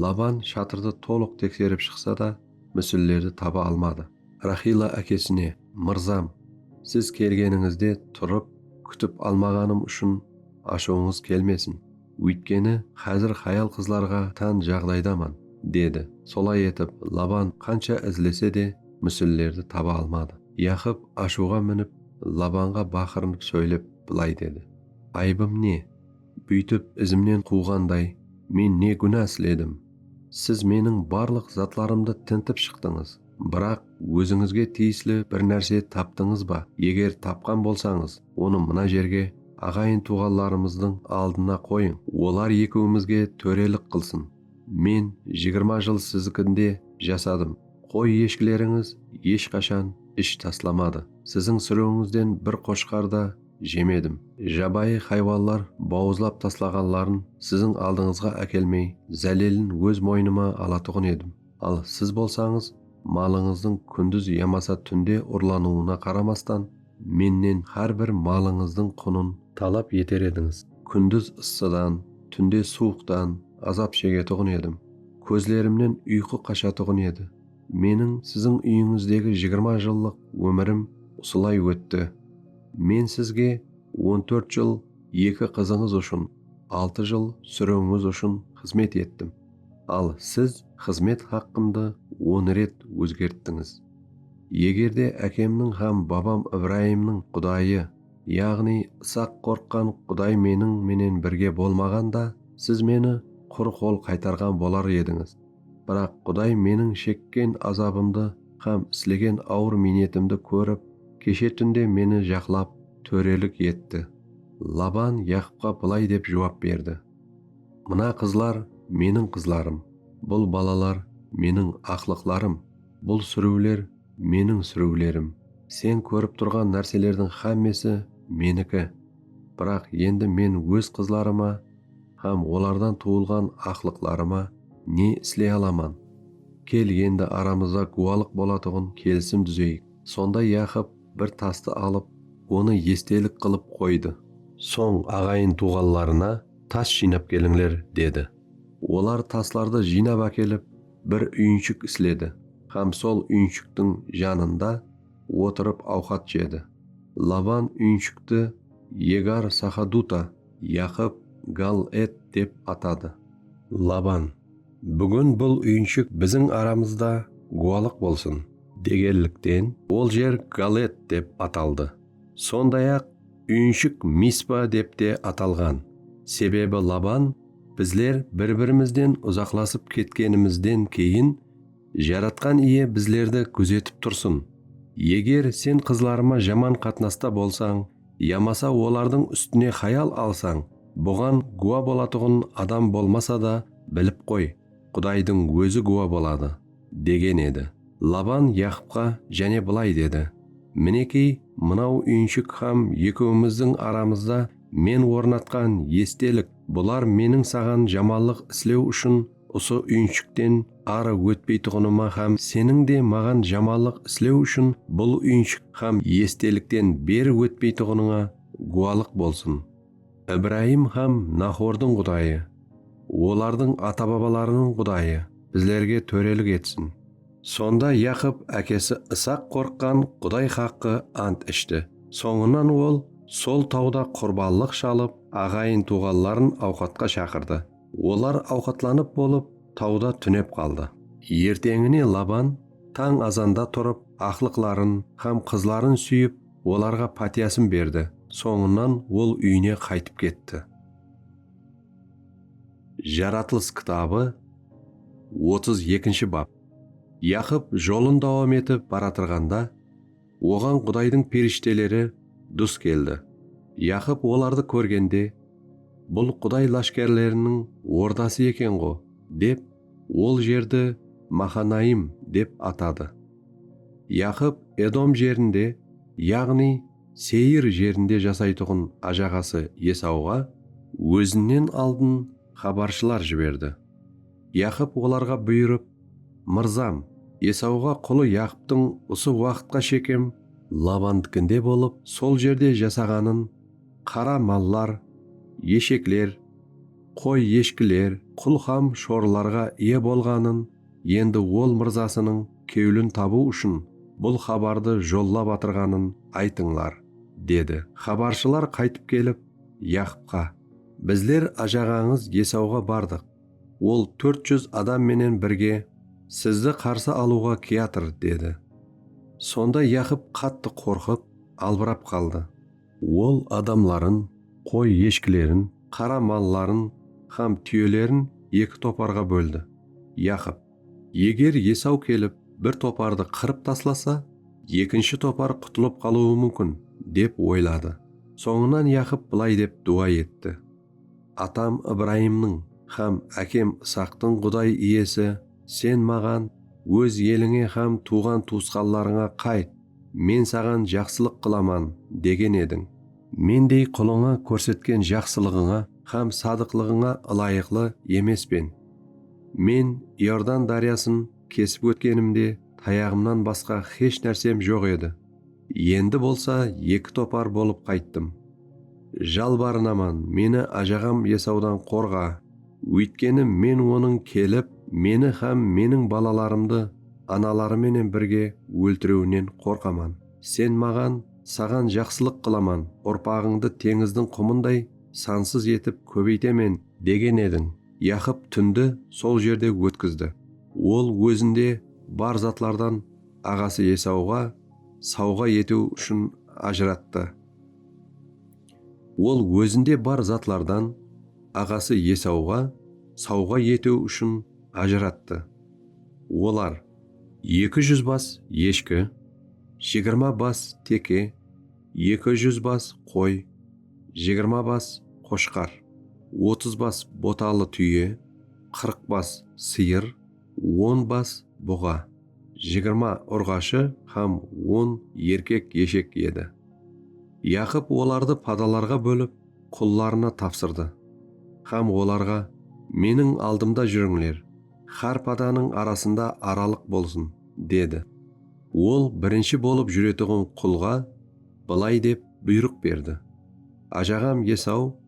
Laban shatırdı tolıq tekserip shıqsa da, músellerdi taba almadı. Raxila ákesine, Mırzam, siz kelgenińizde turıp, kútip almaǵanım ushın ashıwıńız kelmesin. Óytkeni, xázir xayal-qızlarǵa tán jaǵdaydaman, dedi. Solay etip, Laban qansha izlese de, músillerdi taba almadı. Yaqıp ashıwǵa minip, Labanǵa baqırınıp sóylep, bılay dedi, Ayıbım ne? Búytip izimnen quwǵanday, men ne gúna isledim? Siz meniń barlıq zatlarımdı tintip shıqtıńız, biraq, Ózińizge tiyisli bir nárse taptıńız ba? Eger tapqan bolsańız, onı mına jerge, aǵayın-tuwǵanlarımızdıń aldına qoyıń. Olar ekewimizge tórelik qılsın. Men jigirma jıl sizikinde jasadım. Qoy-eshkilerińiz eshqashan ish taslamadı. Siziń súriwińizden bir qoshqar da jemedim. Jabayı haywanlar bawızlap taslaǵanların siziń aldıńızǵa ákelmey, zálelin óz moynıma alatuǵın edim. Al siz bolsańız, malıńızdıń kúndiz yamasa túnde urlanıwına qaramastan, mennen hár bir malıńızdıń qunın talap eter edińiz. Kúndiz ıssıdan, túnde suwıqtan azap shegetuǵın edim. Kózlerimnen uyqı qashatuǵın edi. Meniń siziń úyińizdegi jigirma jıllıq ómirim usılay ótti. Men sizge on tórt jıl eki qızıńız ushın, altı jıl súriwińiz ushın xızmet ettim. Al siz xızmet haqqımdı on ret ózgerttińiz. Egerde ákemniń hám babam Ibrayımnıń Qudayı, yaǵnıy Isaq qorqqan Quday meniń menen birge bolmaǵanda, siz meni qur qol qaytarǵan bolar edińiz. Biraq Quday meniń shekken azabımdı hám islegen awır miynetimdi kórip, keshe túnde meni jaqlap, tórelik etti. Laban Yaqıpqa bılay dep juwap berdi. Mına qızlar, meniń qızlarım. Bul balalar, meniń aqlıqlarım. Bul súriwler, meniń súriwlerim. Sen kórip turǵan nárselerdiń xámmesi, meniki. Biraq endi men óz qızlarıma hám olardan tuwılǵan aqlıqlarıma ne isley alaman? Kel endi aramızda gúwalıq bolatuǵın kelisim dúzeyik. Sonda Yaqıp Bir tastı alıp, onı estelik qılıp qoydı. Soń aǵayın-tuwǵanlarına tas jıynap kelińler, dedi. Olar taslardı jıynap ákelip, bir úyinshik isledi hám sol úyinshiktiń janında otırıp awqat jedi. Laban úyinshikti Yegar-Saxaduta, Yaqıp Gal-ed dep atadı. Laban, Búgin bul úyinshik biziń aramızda gúwalıq bolsın. Degenlikten, ol jer Galet dep ataldı. Sonday-aq, úyinshik Mispa dep te atalǵan, sebebi Laban bizler bir-birimizden uzaqlasıp ketkenimizden keyin, Jaratqan Iye bizlerdi gúzetip tursın, eger sen qızlarıma jaman qatnasta bolsań, yamasa olardıń ústine xayal alsań, buǵan gúwa bolatuǵın adam bolmasa da, bilip qoy, Qudaydıń Ózi gúwa boladı, degen edi. Laban Yaqıpqa jáne bılay dedi, Minekey, mınaw úyinshik hám ekewimizdiń aramızda men ornatqan estelik, bular meniń saǵan jamallıq islew ushın Usı úyinshikten arı ótpeytuǵınıma hám seniń de maǵan jamanlıq islew ushın bul úyinshik hám estelikten beri ótpeytuǵınıńa gúwalıq bolsın. Ibrayım hám Nahordıń Qudayı, olardıń ata-babalarınıń Qudayı bizlerge tórelik etsin. Sonda Yaqıp ákesi Isaq qorqqan Quday haqqı ant ishti. Sońınan ol sol tawda qurbanlıq shalıp, aǵayın-tuwǵanların awqatqa shaqırdı. Olar awqatlanıp bolıp, tawda túnep qaldı. Erteńine Laban tań azanda turıp, aqlıqların hám qızların súyip, olarǵa pátiyasın berdi, sońınan ol úyine qaytıp ketti. Jaratılıs kitabı otız ekinshi bap. Yaqıp jolın dawam etip baratırǵanda. Oǵan Qudaydıń perishteleri dus keldi. Yaqıp olardı kórgende, Bul Quday láshkárleriniń ordası eken-ǵo, dep, ol jerdi Maxanaim dep atadı. Yaqıp Edom jerinde, yaǵnıy Seyir jerinde jasaytuǵın ájaǵası Esauǵa ózinnen aldın xabarshılar jiberdi. Yaqıp olarǵa buyırıp, Mırzam, Esauǵa qulı Yaqıptıń usı waqıtqa shekem Labandikinde bolıp, sol jerde jasaǵanın, qara mallar, eshekler, qoy-eshkiler, qul hám shorlarǵa iye bolǵanın, endi ol mırzasınıń kewlin tabıw ushın bul xabardı jollap atırǵanın aytıńlar, dedi. Xabarshılar qaytıp kelip, Yaqıpqa, Bizler ajaǵańız Esauǵa bardıq. Ol tórt júz adam menen birge sizdi qarsı alıwǵa kiyatır, dedi. Sonda Yaqıp qattı qorqıp, albırap qaldı. Ol adamların, qoy-eshkilerin, qara malların hám túyelerin eki toparǵa bóldi. Yaqıp, Eger Esaw kelip, bir topardı qırıp taslasa, ekinshi topar qutılıp qalıwı múmkin, dep oyladı. Sońınan Yaqıp bılay dep duwa etti. Atam Ibrayımnıń hám ákem Isaqtıń Quday Iyesi, Sen maǵan, Óz elińe hám tuwǵan-tuwısqanlarıńa qayt, Men saǵan jaqsılıq qılaman, degen ediń. Mendey qulıńa kórsetken jaqsılıǵıńa hám sadıqlıǵıńa ılayıqlı emespen. Men Iordan dáryasın kesip ótkenimde tayaǵımnan basqa hesh nársem joq edi. Endi bolsa eki topar bolıp qayttım. Jalbarınaman, meni ájaǵam Esawdan qorǵa, óytkeni men onıń kelip, meni hám meniń balalarımdı anaları menen birge óltirewinen qorqaman. Sen maǵan, Saǵan jaqsılıq qılaman, urpaǵıńdı teńizdiń qumınday sansız etip kóbeytemen, degen ediń. Yaqıp túndi sol jerde ótkizdi. Ol ózinde bar zatlardan aǵası Esauǵa sauǵa etiw ushın ajırattı. Ol ózinde bar zatlardan aǵası Esauǵa sauǵa etiw ushın ajırattı. Olar, eki júz bas eshki, jigirma bas teke, eki júz bas qoy, jigirma bas qoshqar, otız bas botalı túye, qırq bas sıyır, on bas buǵa. Jigirma urǵashı hám on erkek-eshek edi. Yaqıp olardı padalarǵa bólip, qullarına tapsırdı hám olarǵa, Meniń aldımda júrińler, hár padanıń arasında aralıq bolsın, dedi. Ol birinshi bolıp júretuǵın qulǵa bılay dep buyrıq berdi, Ajaǵam Esaw,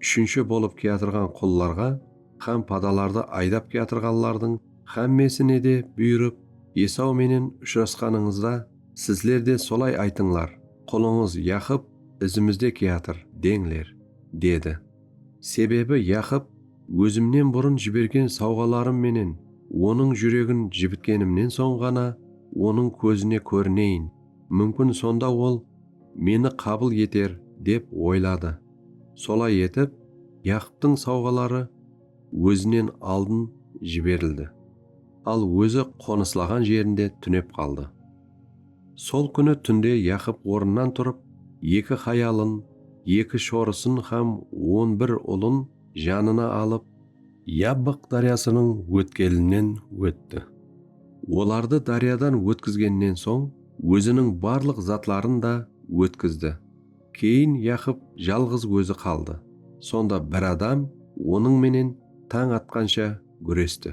Úshinshi bolıp kiyatırǵan qullarǵa hám padalardı aydap kiyatırǵanlardıń hámmesine de buyırıp, Esaw menen ushırasqanıńızda, sizler de solay aytıńlar, Qulıńız Yaqıp izimizde kiyatır, deńler, dedi. Sebebi Yaqıp ózimnen burın jibergen sawǵalarım menen onıń júregin jibitkenimnen soń ǵana onıń kózine kórineyin, múmkin sonda ol meni qabıl eter, dep oyladı. Solay etip, Yaqıptıń sawǵaları ózinen aldın jiberildi, al ózi qonıslaǵan jerinde túnep qaldı. Sol kúni túnde Yaqıp ornınan turıp, eki hayalın, eki shorısın hám on bir ulın janına alıp, Yabbıq dáryasınıń ótkelinen ótti, olardı dáryadan ótkizgennen soń, óziniń barlıq zatların da ótkizdi. Keyin Yaqıp jalǵız ózi qaldı. Sonda bir adam onıń menen tań atqansha gúresti.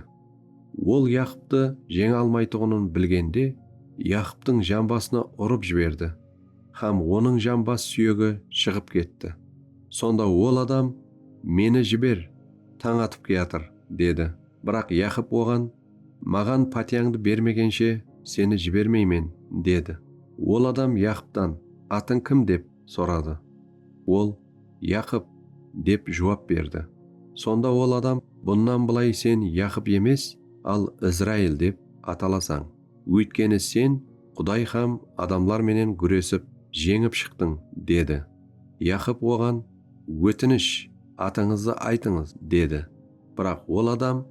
Ol Yaqıptı jeńe almaytuǵının bilgende, Yaqıptıń jambasına urıp jiberdi hám onıń jambas súyegi shıǵıp ketti. Sonda ol adam, Meni jiber, tań atıp kiyatır, dedi. Biraq Yaqıp oǵan. Maǵan pátiyańdı bermegenshe seni jibermeymen, dedi. Ol adam Yaqıptan, Atıń kim? dep soradı. Ol, Yaqıp, dep juwap berdi. Sonda ol adam, Bunnan bılay sen Yaqıp emes, al Izrail dep atalasań. Óytkeni sen Quday hám adamlar menen gúresip, jeńip shıqtıń, dedi. Yaqıp oǵan, Ótinish, atıńızdı aytıńız, dedi. Biraq ol adam,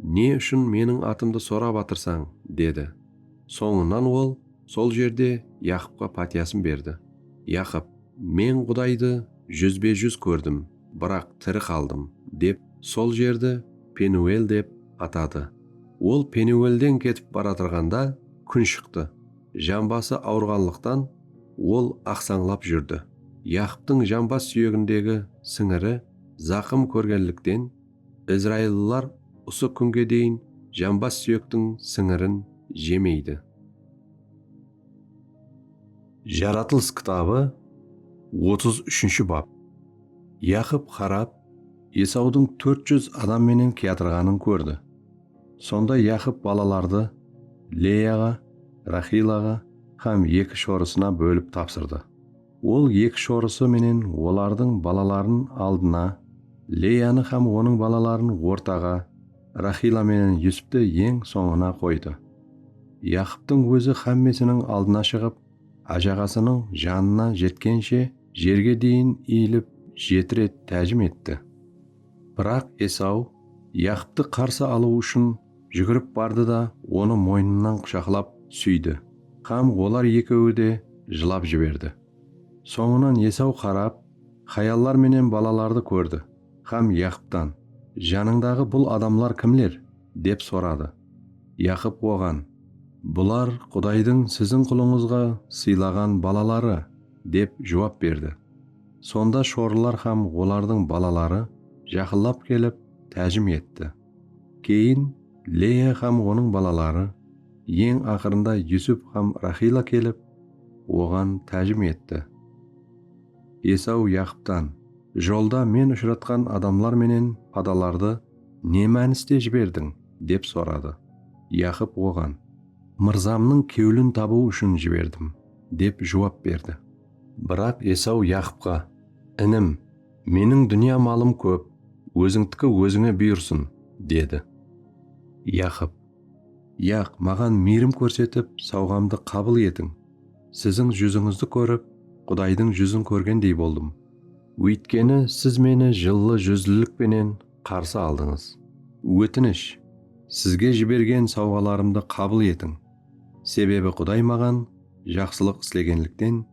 Ne ushın meniń atımdı sorap atırsań? dedi. Sońınan ol sol jerde Yaqıpqa pátiyasın berdi. Yaqıp, Men Qudaydı júzbe-júz kórdim, biraq tiri qaldım, dep sol jerdi Penuel dep atadı. Ol Penuelden ketip baratırǵanda kún shıqtı. Jambası awırǵanlıqtan ol aqsańlap júrdi. Yaqıptıń jambas súyegindegi sińiri zaqım kórgenlikten, Izraillılar usı kúnge deyin jambas súyektiń sińirin jemeydi. Jaratılıs kitabı otız úshinshi bap. Yaqıp Xarab Esawdıń tórt júz adam menen kiyatırǵanın kórdi. Sonda Yaqıp balalardı Leyaǵa, Raxilaǵa hám eki shorısına bólip tapsırdı. Ol eki shorısı menen olardıń balaların aldına, Leyanı hám onıń balaların ortaǵa, Rahila menen Yusupti eń sońına qoydı. Yaqıptıń ózi hámmesiniń aldına shıǵıp, ájaǵasınıń janına jetkenshe jerge deyin iyilip jeti ret tájim etti. Biraq Esaw Yaqıptı qarsı alıw ushın Júgirip bardı da onı moynınan qushaqlap súydi hám olar ekewi de jılap jiberdi. Sońınan Esaw qarap, hayallar menen balalardı kórdi hám Yaqıptan, Janıńdaǵı bul adamlar kimler? dep soradı. Yaqıp oǵan, Bular Qudaydıń siziń qulıńızǵa sıylaǵan balaları, dep juwap berdi. Sonda shorılar hám olardıń balaları jaqınlap kelip, tájim etti. Keyin Leya hám onıń balaları, eń aqırında Yusup hám Raxila kelip, oǵan tájim etti. Esaw Yaqıptan, Jolda men ushıratqan adamlar menen padalardı ne mániste jiberdiń? dep soradı. Yaqıp oǵan, Mırzamnıń kewlin tabıw ushın jiberdim, dep juwap berdi. Biraq Esaw Yaqıpqa, Inim! Meniń dúnya malım kóp, ózińdiki ózińe buyırsın, dedi. Yaqıp, Yaq, maǵan miyrim kórsetip, sawǵamdı qabıl etiń. Siziń júzińizdi kórip, Qudaydıń júzin kórgendey boldım. Óytkeni siz meni jıllı júzlilik penen qarsı aldıńız. Ótinish, sizge jibergen sawǵalarımdı qabıl etiń. Sebebi Quday maǵan jaqsılıq islegenlikten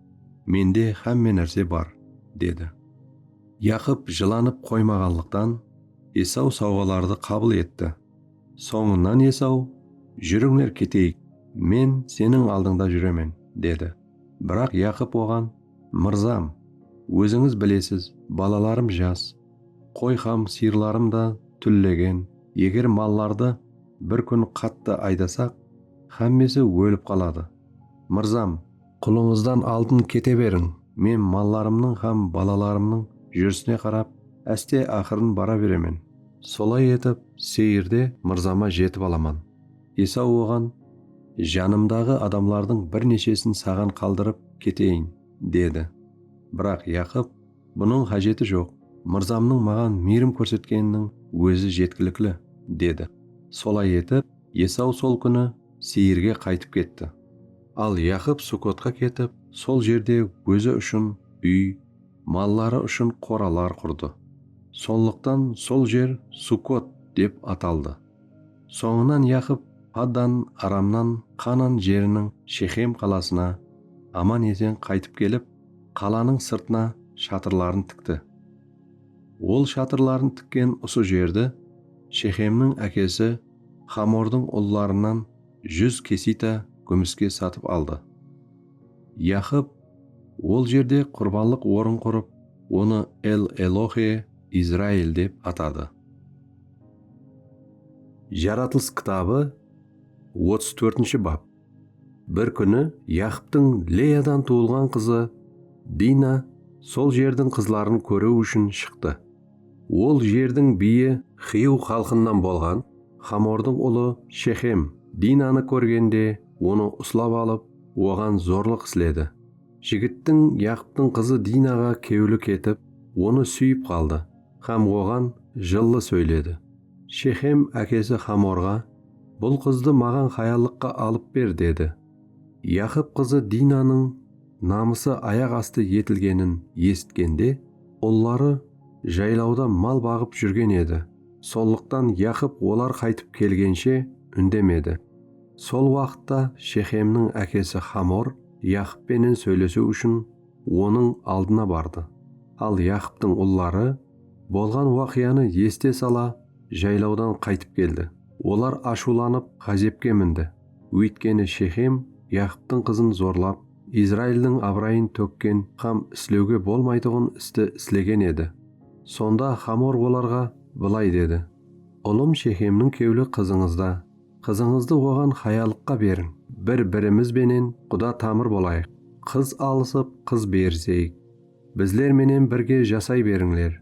mende xámme nárse bar, dedi. Yaqıp jılanıp qoymaǵanlıqtan, Esaw sawǵalardı qabıl etti. Sońınan Esaw, Júrińler keteyik, men seniń aldıńda júremen, dedi. Biraq Yaqıp oǵan, Mırzam, ózińiz bilesiz, balalarım jas, qoy hám sıyırlarım da túllegen, eger mallardı, Bir kún qattı aydasaq, xámmesi ólip qaladı. Mırzam! Qulıńızdan aldın kete beriń! Men mallarımnıń hám balalarımnıń júrisine qarap, áste-aqırın bara beremen. Solay etip, Seyirde mırzama jetip alaman. Esaw oǵan, Janımdaǵı adamlardıń bir neshesin saǵan qaldırıp keteyin, dedi. Biraq Yaqıp. Bunıń xájeti joq, mırzamnıń maǵan miyrim kórsetkeniniń ózi jetkilikli, dedi. Solay etip, Esaw sol kúni Seyirge qaytıp ketti. Al Yaqıp Sukotqa ketip, sol jerde ózi ushın úy, malları ushın qoralar qurdı. Sonlıqtan sol jer Sukot dep ataldı. Sońınan Yaqıp Paddan Aramnan Qanan jeriniń Shexem qalasına aman-esen qaytıp kelip, Qalanıń sırtına shatırların tikti. Ol shatırların tikken usı jerdi Shexemniń ákesi Xamordıń ullarınan júz kesita gúmiske satıp aldı. Yaxıp ol jerde qurbanlıq orın qurıp, onı El-Elohe Izrail dep atadı. Jaratılıs kitabı otız tórtinshi bap. Bir kúni Yaqıptıń Leyadan tuwılǵan qızı Dina sol jerdiń qızların kóriw ushın shıqtı. Ol jerdiń biyi Xiyw xalqınan bolǵan Xamordıń ulı Shexem Dinanı kórgende onı uslap alıp, oǵan zorlıq isledi. Jigittiń Yaqıptıń qızı Dinaǵa kewli ketip, onı súyip qaldı hám oǵan jıllı sóyledi. Shexem ákesi Xamorǵa, Bul qızdı maǵan hayallıqqa alıp ber, dedi. Yaqıp qızı Dinanıń namısı ayaq astı etilgenin esitkende, ulları jaylawda mal baǵıp júrgen edi, sonlıqtan Yaqıp olar qaytıp kelgenshe úndemedi. Sol waqıtta Shexemniń ákesi Xamor Yaqıp penen sóylesiw ushın onıń aldına bardı. Al Yaqıptıń ulları. Bolǵan waqıyanı esite sala jaylawdan qaytıp keldi. Olar ashıwlanıp ǵázepke mindi, óytkeni Shexem Yaqıptıń qızın zorlap, Izraildıń abırayın tókken hám islewge bolmaytuǵın isti islegen edi. Sonda Xamor olarǵa bılay dedi, Ulım Shexemniń kewli qızıńızda, qızıńızdı oǵan hayalıqqa beriń, bir-birimiz benen quda tamır bolayıq, qız alısıp, qız beriseyik. Bizler menen birge jasay berińler.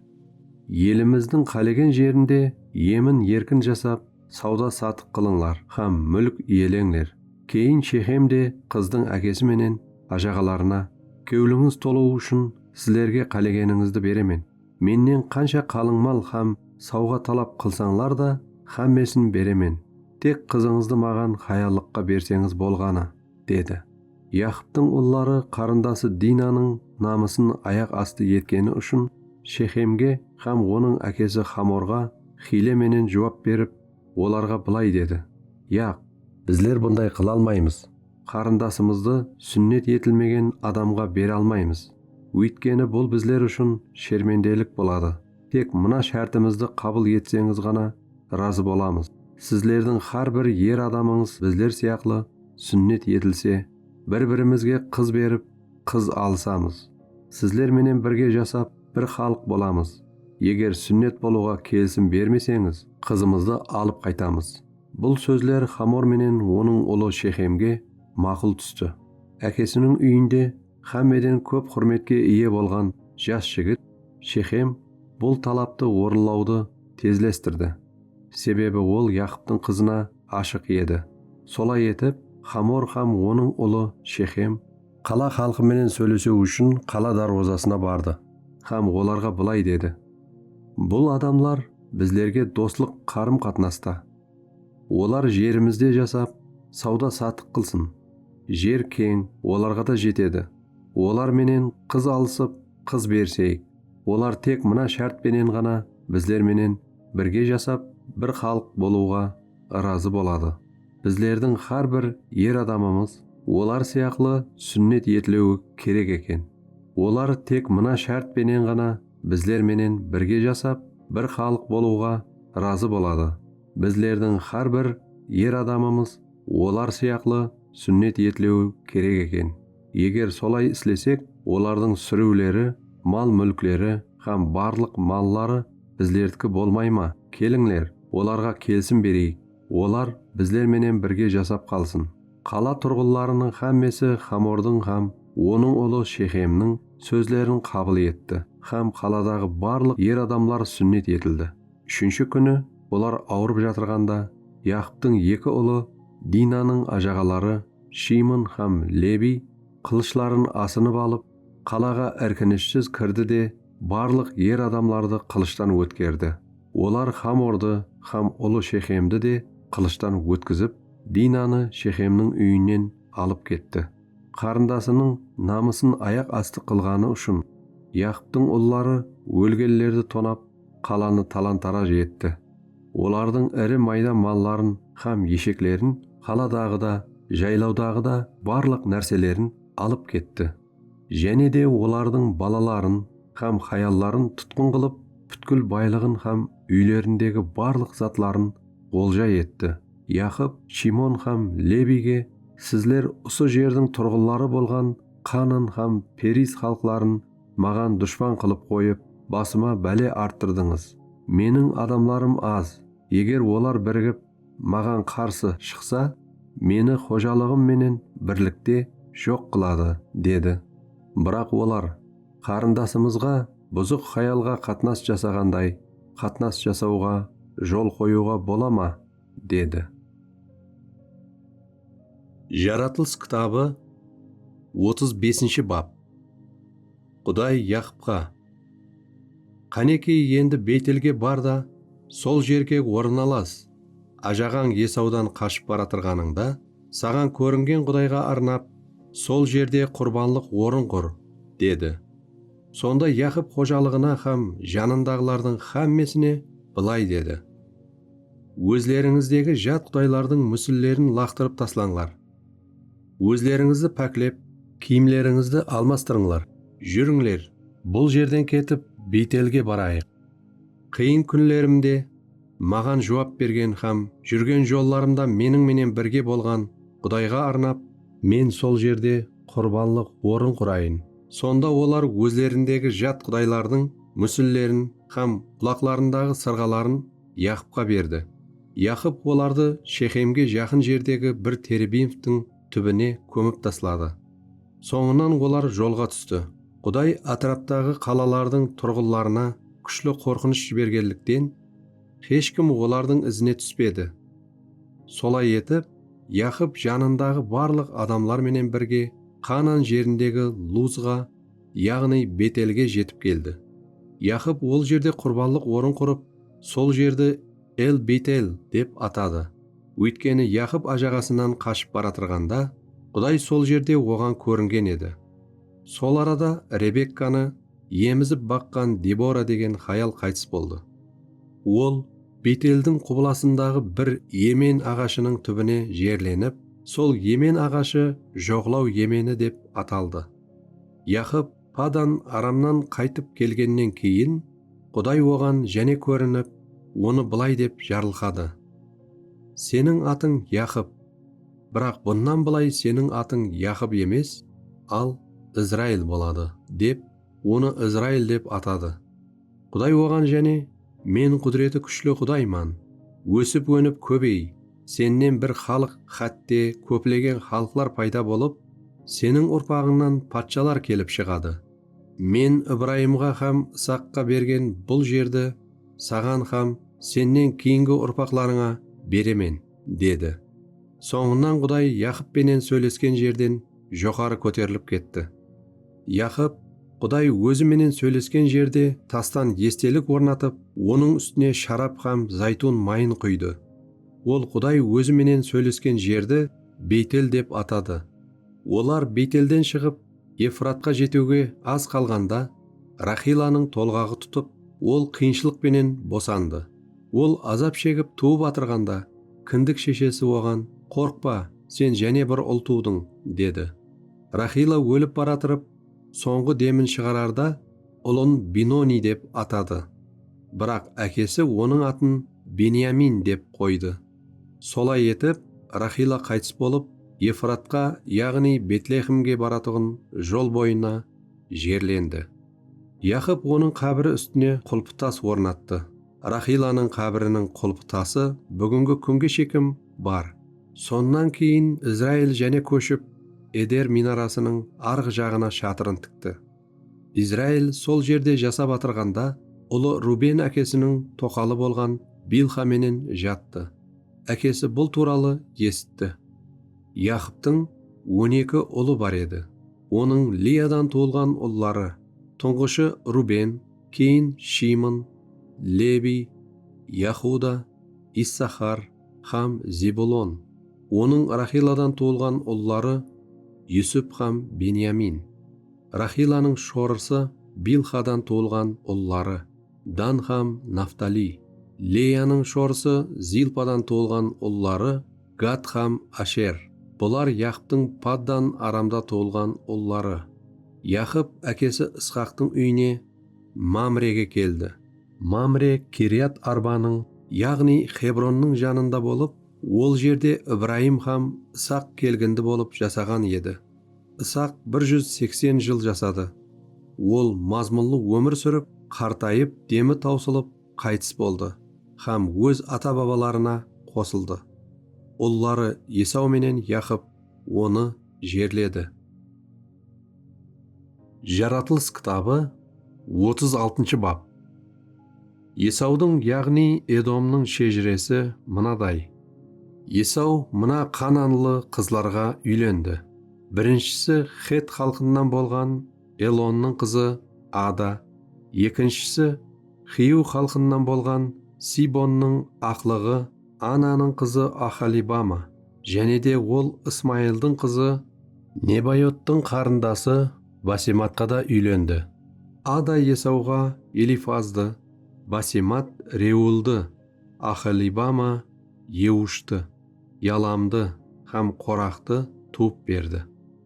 Elimizdiń qálegen jerinde emin-erkin jasap, sawda-satıq qılıńlar hám múlk iyeleńler. Keyin Shexem de qızdıń ákesi menen ájaǵalarına, Kewlińiz tolıwı ushın sizlerge qálegenińizdi beremen. Mennen qansha qalın mal hám sawǵa talap qılsańlar da, hámmesin beremen. Tek qızıńızdı maǵan hayallıqqa berseńiz bolǵanı. dedi. Yaqıptıń ulları qarındası Dinanıń namısın ayaq astı etkeni ushın Shexemge hám onıń ákesi Xamorǵa hiyle menen juwap berip, olarǵa bılay dedi, Yaq! Bizler bunday qıla almaymız, qarındasımızdı súnnet etilmegen adamǵa bere almaymız, óytkeni bul bizler ushın shermendelik boladı. Tek mına shártimizdi qabıl etseńiz ǵana razı bolamız, sizlerdiń xár bir er adamıńız bizler sıyaqlı súnnet etilse, bir-birimizge qız berip, qız alısamız. Sizler menen birge jasap, bir xalıq bolamız. Eger súnnet bolıwǵa kelisim bermeseńiz, qızımızdı alıp qaytamız. Bul sózler Xamor menen onıń ulı Shexemge maqul tústi. Ákesiniń úyinde Xámmeden kóp xúrmetke iye bolǵan jas jigit Shexem bul talaptı orınlawdı tezlestirdi, sebebi ol Yaqıptıń qızına ashıq edi. Solay etip, Xamor hám onıń ulı Shexem. Qala xalqı menen sóylesew ushın qala dárwazasına bardı hám olarǵa bılay dedi, Bul adamlar bizlerge doslıq qarım-qatnasta. Olar jerimizde jasap, sawda-satıq qılsın. Jer keń, olarǵa da jetedi. Olar menen qız alısıp, qız beriseyik. Olar tek mına shárt penen ǵana bizler menen birge jasap, bir xalıq bolıwǵa ırazı boladı, bizlerdiń xár bir er adamımız olar sıyaqlı súnnet etiliwi kerek eken. Olar tek mına shárt penen ǵana bizler menen birge jasap, bir xalıq bolıwǵa razı boladı. Bizlerdiń xár bir er adamımız olar sıyaqlı súnnet etlewi kerek eken. Eger solay islesek, olardıń súriwleri, mal-múlkleri hám barlıq malları bizlerdiki bolmay ma? Kelińler, olarǵa kelsim bereyik. Olar bizler menen birge jasap qalsın. Qala turǵınlarınıń xámmesi Xamordıń hám onıń ulı Shexemniń sózlerin qabıl etti hám qaladaǵı barlıq er adamlar súnnet etildi. Úshinshi kúni olar awırıp jatırǵanda, Yaqıptıń eki ulı Dinanıń ajaǵaları Shimon hám Lebiy qılıshların asınıp alıp, qalaǵa irkinishsiz kirdi de, barlıq er adamlardı qılıshtan ótkerdi. Olar Xamordı hám ulı Shexemdi de qılıshtan ótkizip, Dinanı Shexemniń úyinen alıp ketti. Qarındasınıń namısın ayaq astı qılǵanı ushın, Yaqıptıń ulları ólgenlerdi tonap, qalanı talan-taraj etti. Olardıń iri mayda malların hám esheklerin, qaladaǵı da, jaylawdaǵı da barlıq nárselerin alıp ketti. Jáne de olardıń balaların hám hayalların tutqın qılıp, pútkil baylıǵın hám úylerindegi barlıq zatların olja etti. Yaqıp Shimon hám Lebiyge, Sizler usı jerdiń turǵınları bolǵan Qanan hám Periz xalıqların maǵan dushpan qılıp qoyıp, basıma bále arttırdıńız. Meniń adamlarım az, eger olar birigip, maǵan qarsı shıqsa, meni xojalıǵım menen birlikte joq qıladı, dedi. Biraq olar, Qarındasımızǵa buzıq hayalǵa qatnas jasaǵanday qatnas jasawǵa jol qoyıwǵa bola ma? dedi. Jaratılıs kitabı otız besinshi bap. Quday Yaqıpqa, Qáneki, endi Beytelge bar da, sol jerge orın alas. Ájaǵań Esawdan qashıp baratırǵanıńda, saǵan kóringen Qudayǵa arnap, sol jerde qurbanlıq orın qur, dedi. Sonda Yaqıp xojalıǵına hám janındaǵılardıń hámmesine bılay dedi, Ózlerińizdegi jat qudaylardıń músillerin laqtırıp taslańlar. Ózlerińizdi páklep, kiyimlerińizdi almastırıńlar. Júrińler, bul jerden ketip, Biytelge barayıq. Qıyın kúnlerimde Maǵan juwap bergen hám júrgen jollarımda meniń menen birge bolǵan Qudayǵa arnap, men sol jerde qurbanlıq orın qurayın, sonda olar ózlerindegi jat qudaylardıń músillerin hám qulaqlarındaǵı sırǵaların Yaqıpqa berdi. Yaqıp olardı Shexemge jaqın jerdegi bir terebinvtiń túbine kómip tasladı. Sońınan olar jolǵa tústi. Quday átiraptaǵı qalalardıń turǵınlarına kúshli qorqınısh jibergenlikten, hesh kim olardıń izine túspedi. Solay etip, Yaqıp janındaǵı barlıq adamlar menen birge Qanan jerindegi Luzǵa, yaǵnıy Betelge jetip keldi. Yaqıp ol jerde qurbanlıq orın qurıp, sol jerdi El-Betel dep atadı. Óytkeni Yaqıp ájaǵasınan qashıp baratırǵanda, Quday sol jerde oǵan kóringen edi. Sol arada Rebekkanı emizip baqqan Debora degen hayal qaytıs boldı. Ol Beteldiń qubılasındaǵı bir emen aǵashınıń túbine jerlenip, sol emen aǵashı Joǵlaw emeni dep ataldı. Yaqıp Padan Aramnan qaytıp kelgennen keyin, Quday oǵan jáne kórinip, onı bılay dep jarılqadı, Seniń atıń Yaqıp, biraq bunnan bılay seniń atıń Yaqıp emes, al Izrail boladı, dep, onı Izrail dep atadı. Quday oǵan jáne, Men qúdireti kúshli Qudayman, ósip-ónip kóbey, sennen bir xalıq, xátte, kóplegen xalıqlar payda bolıp, seniń urpaǵıńnan patshalar kelip shıǵadı. Men Ibrayımǵa hám Isaqqa bergen bul jerdi saǵan hám sennen keyingi urpaqlarıńa beremen, dedi. Sońınan Quday Yaqıp penen sóylesken jerden joqarı kóterilip ketti. Yaqıp, Quday Ózi menen sóylesken jerde tastan estelik ornatıp, onıń ústine sharap hám zaytun mayın quydı. Ol Quday Ózi menen sóylesken jerdi Beytel dep atadı. Olar Beytelden shıǵıp, Efratqa jetiwge az qalǵanda, Raxilanıń tolǵaǵı tutıp, ol qıyınshılıq penen bosandı. Ol azap shegip tuwıp atırǵanda, kindik sheshesi oǵan, Qorqpa, sen jáne bir ul tuwdıń, dedi. Raxila ólip baratırıp, sońǵı demin shıǵararda ulın Binoniy dep atadı. Biraq ákesi onıń atın Benyamin dep qoydı. Solay etip, Raxila qaytıs bolıp, Efratqa, yaǵnıy Betlexemge baratuǵın jol boyına jerlendi. Yaqıp onıń qábiri ústine qulpı tas ornattı. Raxilanıń qábiriniń qulpı tası búgingi kúnge shekim bar. Sonnan keyin Izrail jáne kóship, Eder minarasınıń arǵı jaǵına shatırın tikti. Izrail sol jerde jasap atırǵanda, ulı Ruben ákesiniń toqalı bolǵan Bilxa menen jattı. Ákesi bul tuwralı esitti. Yaqıptıń on eki ulı bar edi. Onıń Liyadan tuwılǵan ulları, tuńǵıshı Ruben, keyin Shimon, Lebiy, Yahuda, Issaxar, hám Zebulon, onıń Raxiladan tuwılǵan ulları Yusup hám Benyamin. Raxilanıń shorısı Bilxadan tuwılǵan ulları, Dan hám Naftaliy. Leyanıń shorısı Zilpadan tuwılǵan ulları Gad hám Asher. Bular Yaqıptıń Paddan Aramda tuwılǵan ulları. Yaqıp ákesi Isxaqtıń úyine Mamrege keldi. Mamre Kiriyat-Arbanıń, yaǵnıy Xebronnıń janında bolıp, ol jerde Ibrayım hám Isaq kelgindi bolıp jasaǵan edi. Isaq bir júz seksen jıl jasadı. Ol mazmunlı ómir súrip, qartayıp, demi tawsılıp, qaytıs boldı hám óz ata-babalarına qosıldı. Ulları Esaw menen Yaqıp onı jerledi. Jaratılıs kitabı otız altınshı bap. Esawdıń, yaǵnıy Edomnıń shejiresi mınaday, Esaw mına qananlı qızlarǵa úylendi, birinshisi xet xalqınan bolǵan Elonnıń qızı Ada, ekinshisi xiyw xalqınan bolǵan Sibonnıń aqlıǵı, Ananıń qızı Oxolibama, jáne de ol Ismayıldıń qızı. Nebayottıń qarındası Basematqa da úylendi. Ada Esawǵa Elifazdı, Basemat Reuıldı, Oxolibama Eushti, Yalamdı hám Qoraxtı tuwıp berdi.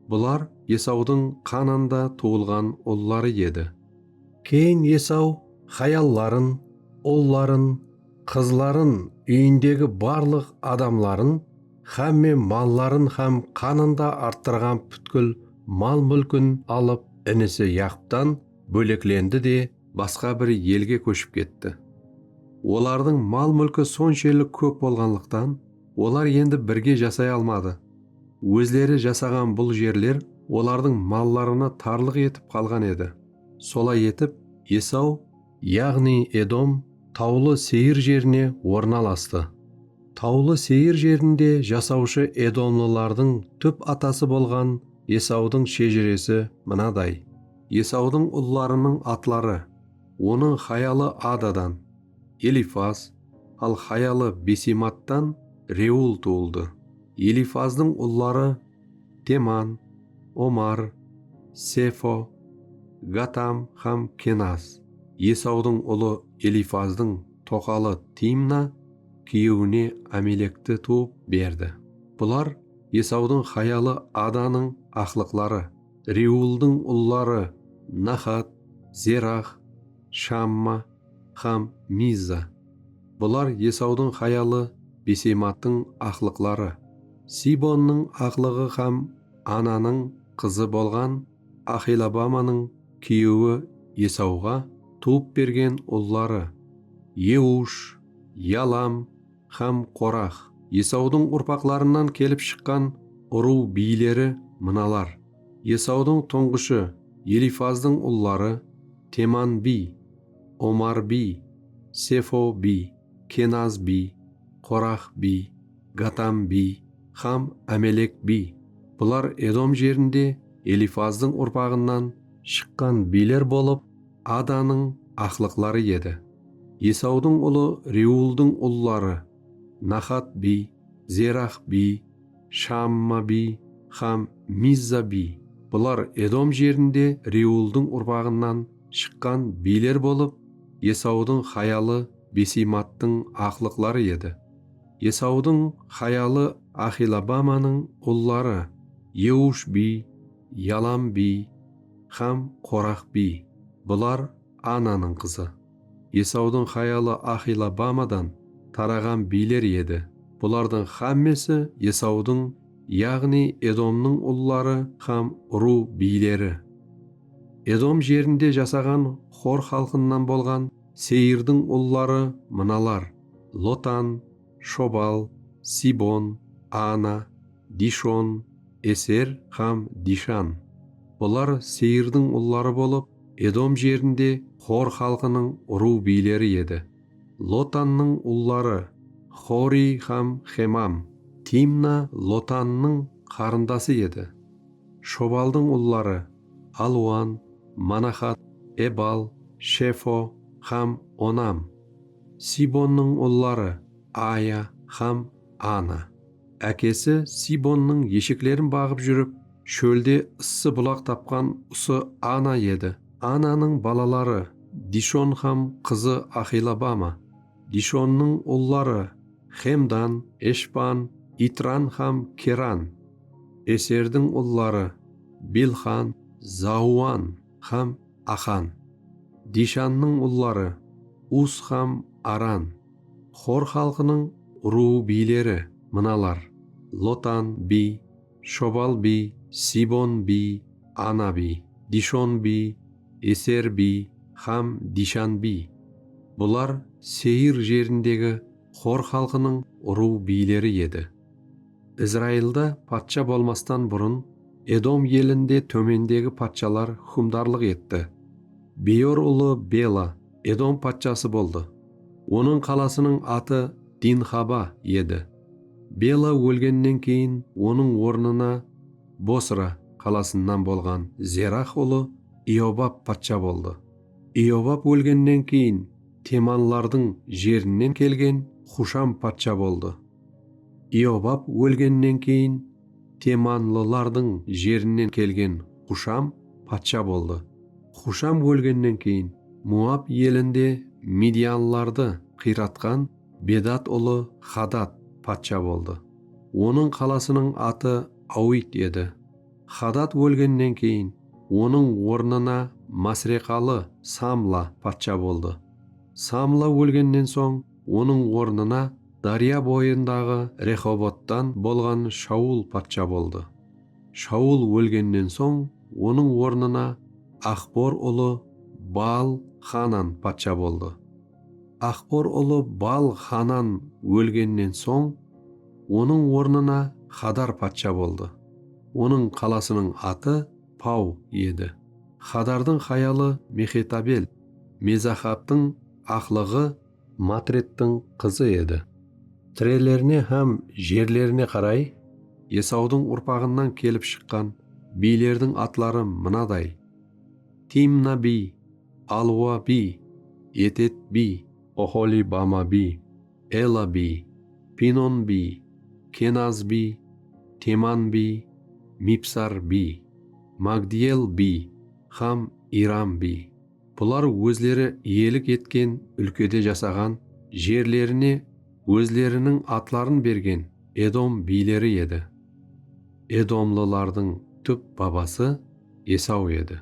Bular Esawdıń Qananda tuwılǵan ulları edi. Keyin Esaw hayalların, ulların, qızların, úyindegi barlıq adamların xámme malların hám qanında arttırǵan pútkil mal-múlkin alıp, inisi Yaqıptan bóleklendi de, basqa bir elge kóship ketti. Olardıń mal-múlki sonshelli kóp bolǵanlıqtan, olar endi birge jasay almadı. Ózleri jasaǵan bul jerler olardıń mallarına tarlıq etip qalǵan edi. Solay etip, Esaw yaǵnıy Edom Tawlı Seyir jerine ornalastı. Tawlı Seyir jerinde jasawshı edomlılardıń túp atası bolǵan Esawdıń shejiresi mınaday. Esawdıń ullarınıń atları, onıń hayalı Adadan, Elifaz, al hayalı Besemattan Reuıl tuwıldı. Elifazdıń ulları Teman, Omar, Sefo, Gatam hám Kenaz. Esawdıń ulı Elifazdıń toqalı Timna kúyewine Amelekti tuwıp berdi. Bular Esawdıń hayalı Adanıń aqlıqları, Rewıldıń ulları Naxat, Zerax, Shamma, hám Mizza. Bular Esawdıń hayalı Beseymattıń aqlıqları, Sibonnıń aqlıǵı hám Ananıń qızı bolǵan Axelabamanıń kúyewi Esawǵa tuwıp bergen ulları, Eush, Yalam, hám Qorax. Esawdıń urpaqlarınan kelip shıqqan urıw biyleri mınalar, Esawdıń tuńǵıshı Elifazdıń ulları, Teman biy, Omar biy, Sefo biy, Kenaz biy, Qorax biy, Gatam biy hám Ámelek biy. Bular Edom jerinde Elifazdıń urpaǵınan shıqqan biyler bolıp, Adanıń aqlıqları edi. Esawdıń ulı Reuıldıń ulları, Naxat biy, Zerax biy, Shaamma biy hám Mizza biy. Bular Edom jerinde Reuıldıń urpaǵınan shıqqan biyler bolıp, Esawdıń hayalı Beseymattıń aqlıqları edi. Esawdıń hayalı Axilabbamanıń ulları, Eush biy, Yalam biy. Hám Qoraq biy, bular Ananıń qızı. Esaudıń hayalı Axilabamadan taraǵan biyler edi, bulardıń xámmesi Esaudıń, yaǵnıy Edomnıń ulları hám urıw biyleri. Edom jerinde jasaǵan Xor xalqınan bolǵan Seirdıń ulları mınalar, Lotan, Shobal, Sibon, Ana, Dishon, Eser hám Dishan. Bular Seyirdiń ulları bolıp, Edom jerinde Xor xalqınıń urıw biyleri edi. Lotannıń ulları, Xoriy hám Xemam. Timna Lotannıń qarındası edi. Shobaldıń ulları, Aluan, Manaxat, Ebal, Shefo hám Onam. Sibonnıń ulları, Aya hám Ana. Ákesi Sibonnıń esheklerin baǵıp júrip, shólde ıssı bulaq tapqan usı Ana edi. Ananıń balaları, Dishon hám qızı Axilabama. Dishonnıń ulları, Xemdan, Eshban, Itran hám Keran. Eserdiń ulları, Bilxan, Zauan hám Axan. Dishannıń ulları, Us hám Aran. Xor xalqınıń urıw biyleri mınalar, Lotan biy, Shobal biy, Sibon biy, Ana biy, Dishon biy, Eser biy hám Dishan biy. Bular Seyir jerindegi xor xalqınıń urıw biyleri edi. Izrailda patsha bolmastan burın Edom elinde tómendegi patshalar húkimdarlıq etti. Beyor ulı Bela Edom patshası boldı. Onıń qalasınıń atı Dinxaba edi. Bela ólgennen keyin onıń ornına Bosra qalasınan bolǵan Zerax ulı Iyobab patsha boldı. Iyobab ólgennen keyin temanlardıń jerinen kelgen Xusham patsha boldı. Iobab ólgennen keyin temanlılardıń jerinen kelgen Xusham patsha boldı. Xusham ólgennen keyin Moab elinde midyanlılardı qıyratqan Bedad ulı Hadad patsha boldı. Onıń qalasınıń atı Awit edi. Hadad ólgennen keyin onıń ornına masreqalı Samla patsha boldı. Samla ólgennen soń Onıń ornına dárya boyındaǵı Rexobottan bolǵan Shaul patsha boldı. Shaul ólgennen soń, onıń ornına Axbor ulı Baal-Xanan patsha boldı. Axbor ulı Baal-Xanan ólgennen soń, onıń ornına Xadar patsha boldı. Onıń qalasınıń atı Pau edi. Xadardıń hayalı Mexetabel, Mezahabtıń Aqlıǵı Matredtiń qızı edi. Tirelerine hám jerlerine qaray. Esawdıń urpaǵınan kelip shıqqan biylerdiń atları mınaday, Timna biy, Alwa biy, Etet biy. Oxolibama biy, Ela biy, Pinon biy, Kenaz biy, Teman biy, Mibsar biy, Magdiyel biy hám Iram biy. Bular ózleri iyelik etken úlkede jasaǵan, jerlerine ózleriniń atların bergen Edom biyleri edi. Edomlılardıń túp babası Esaw edi.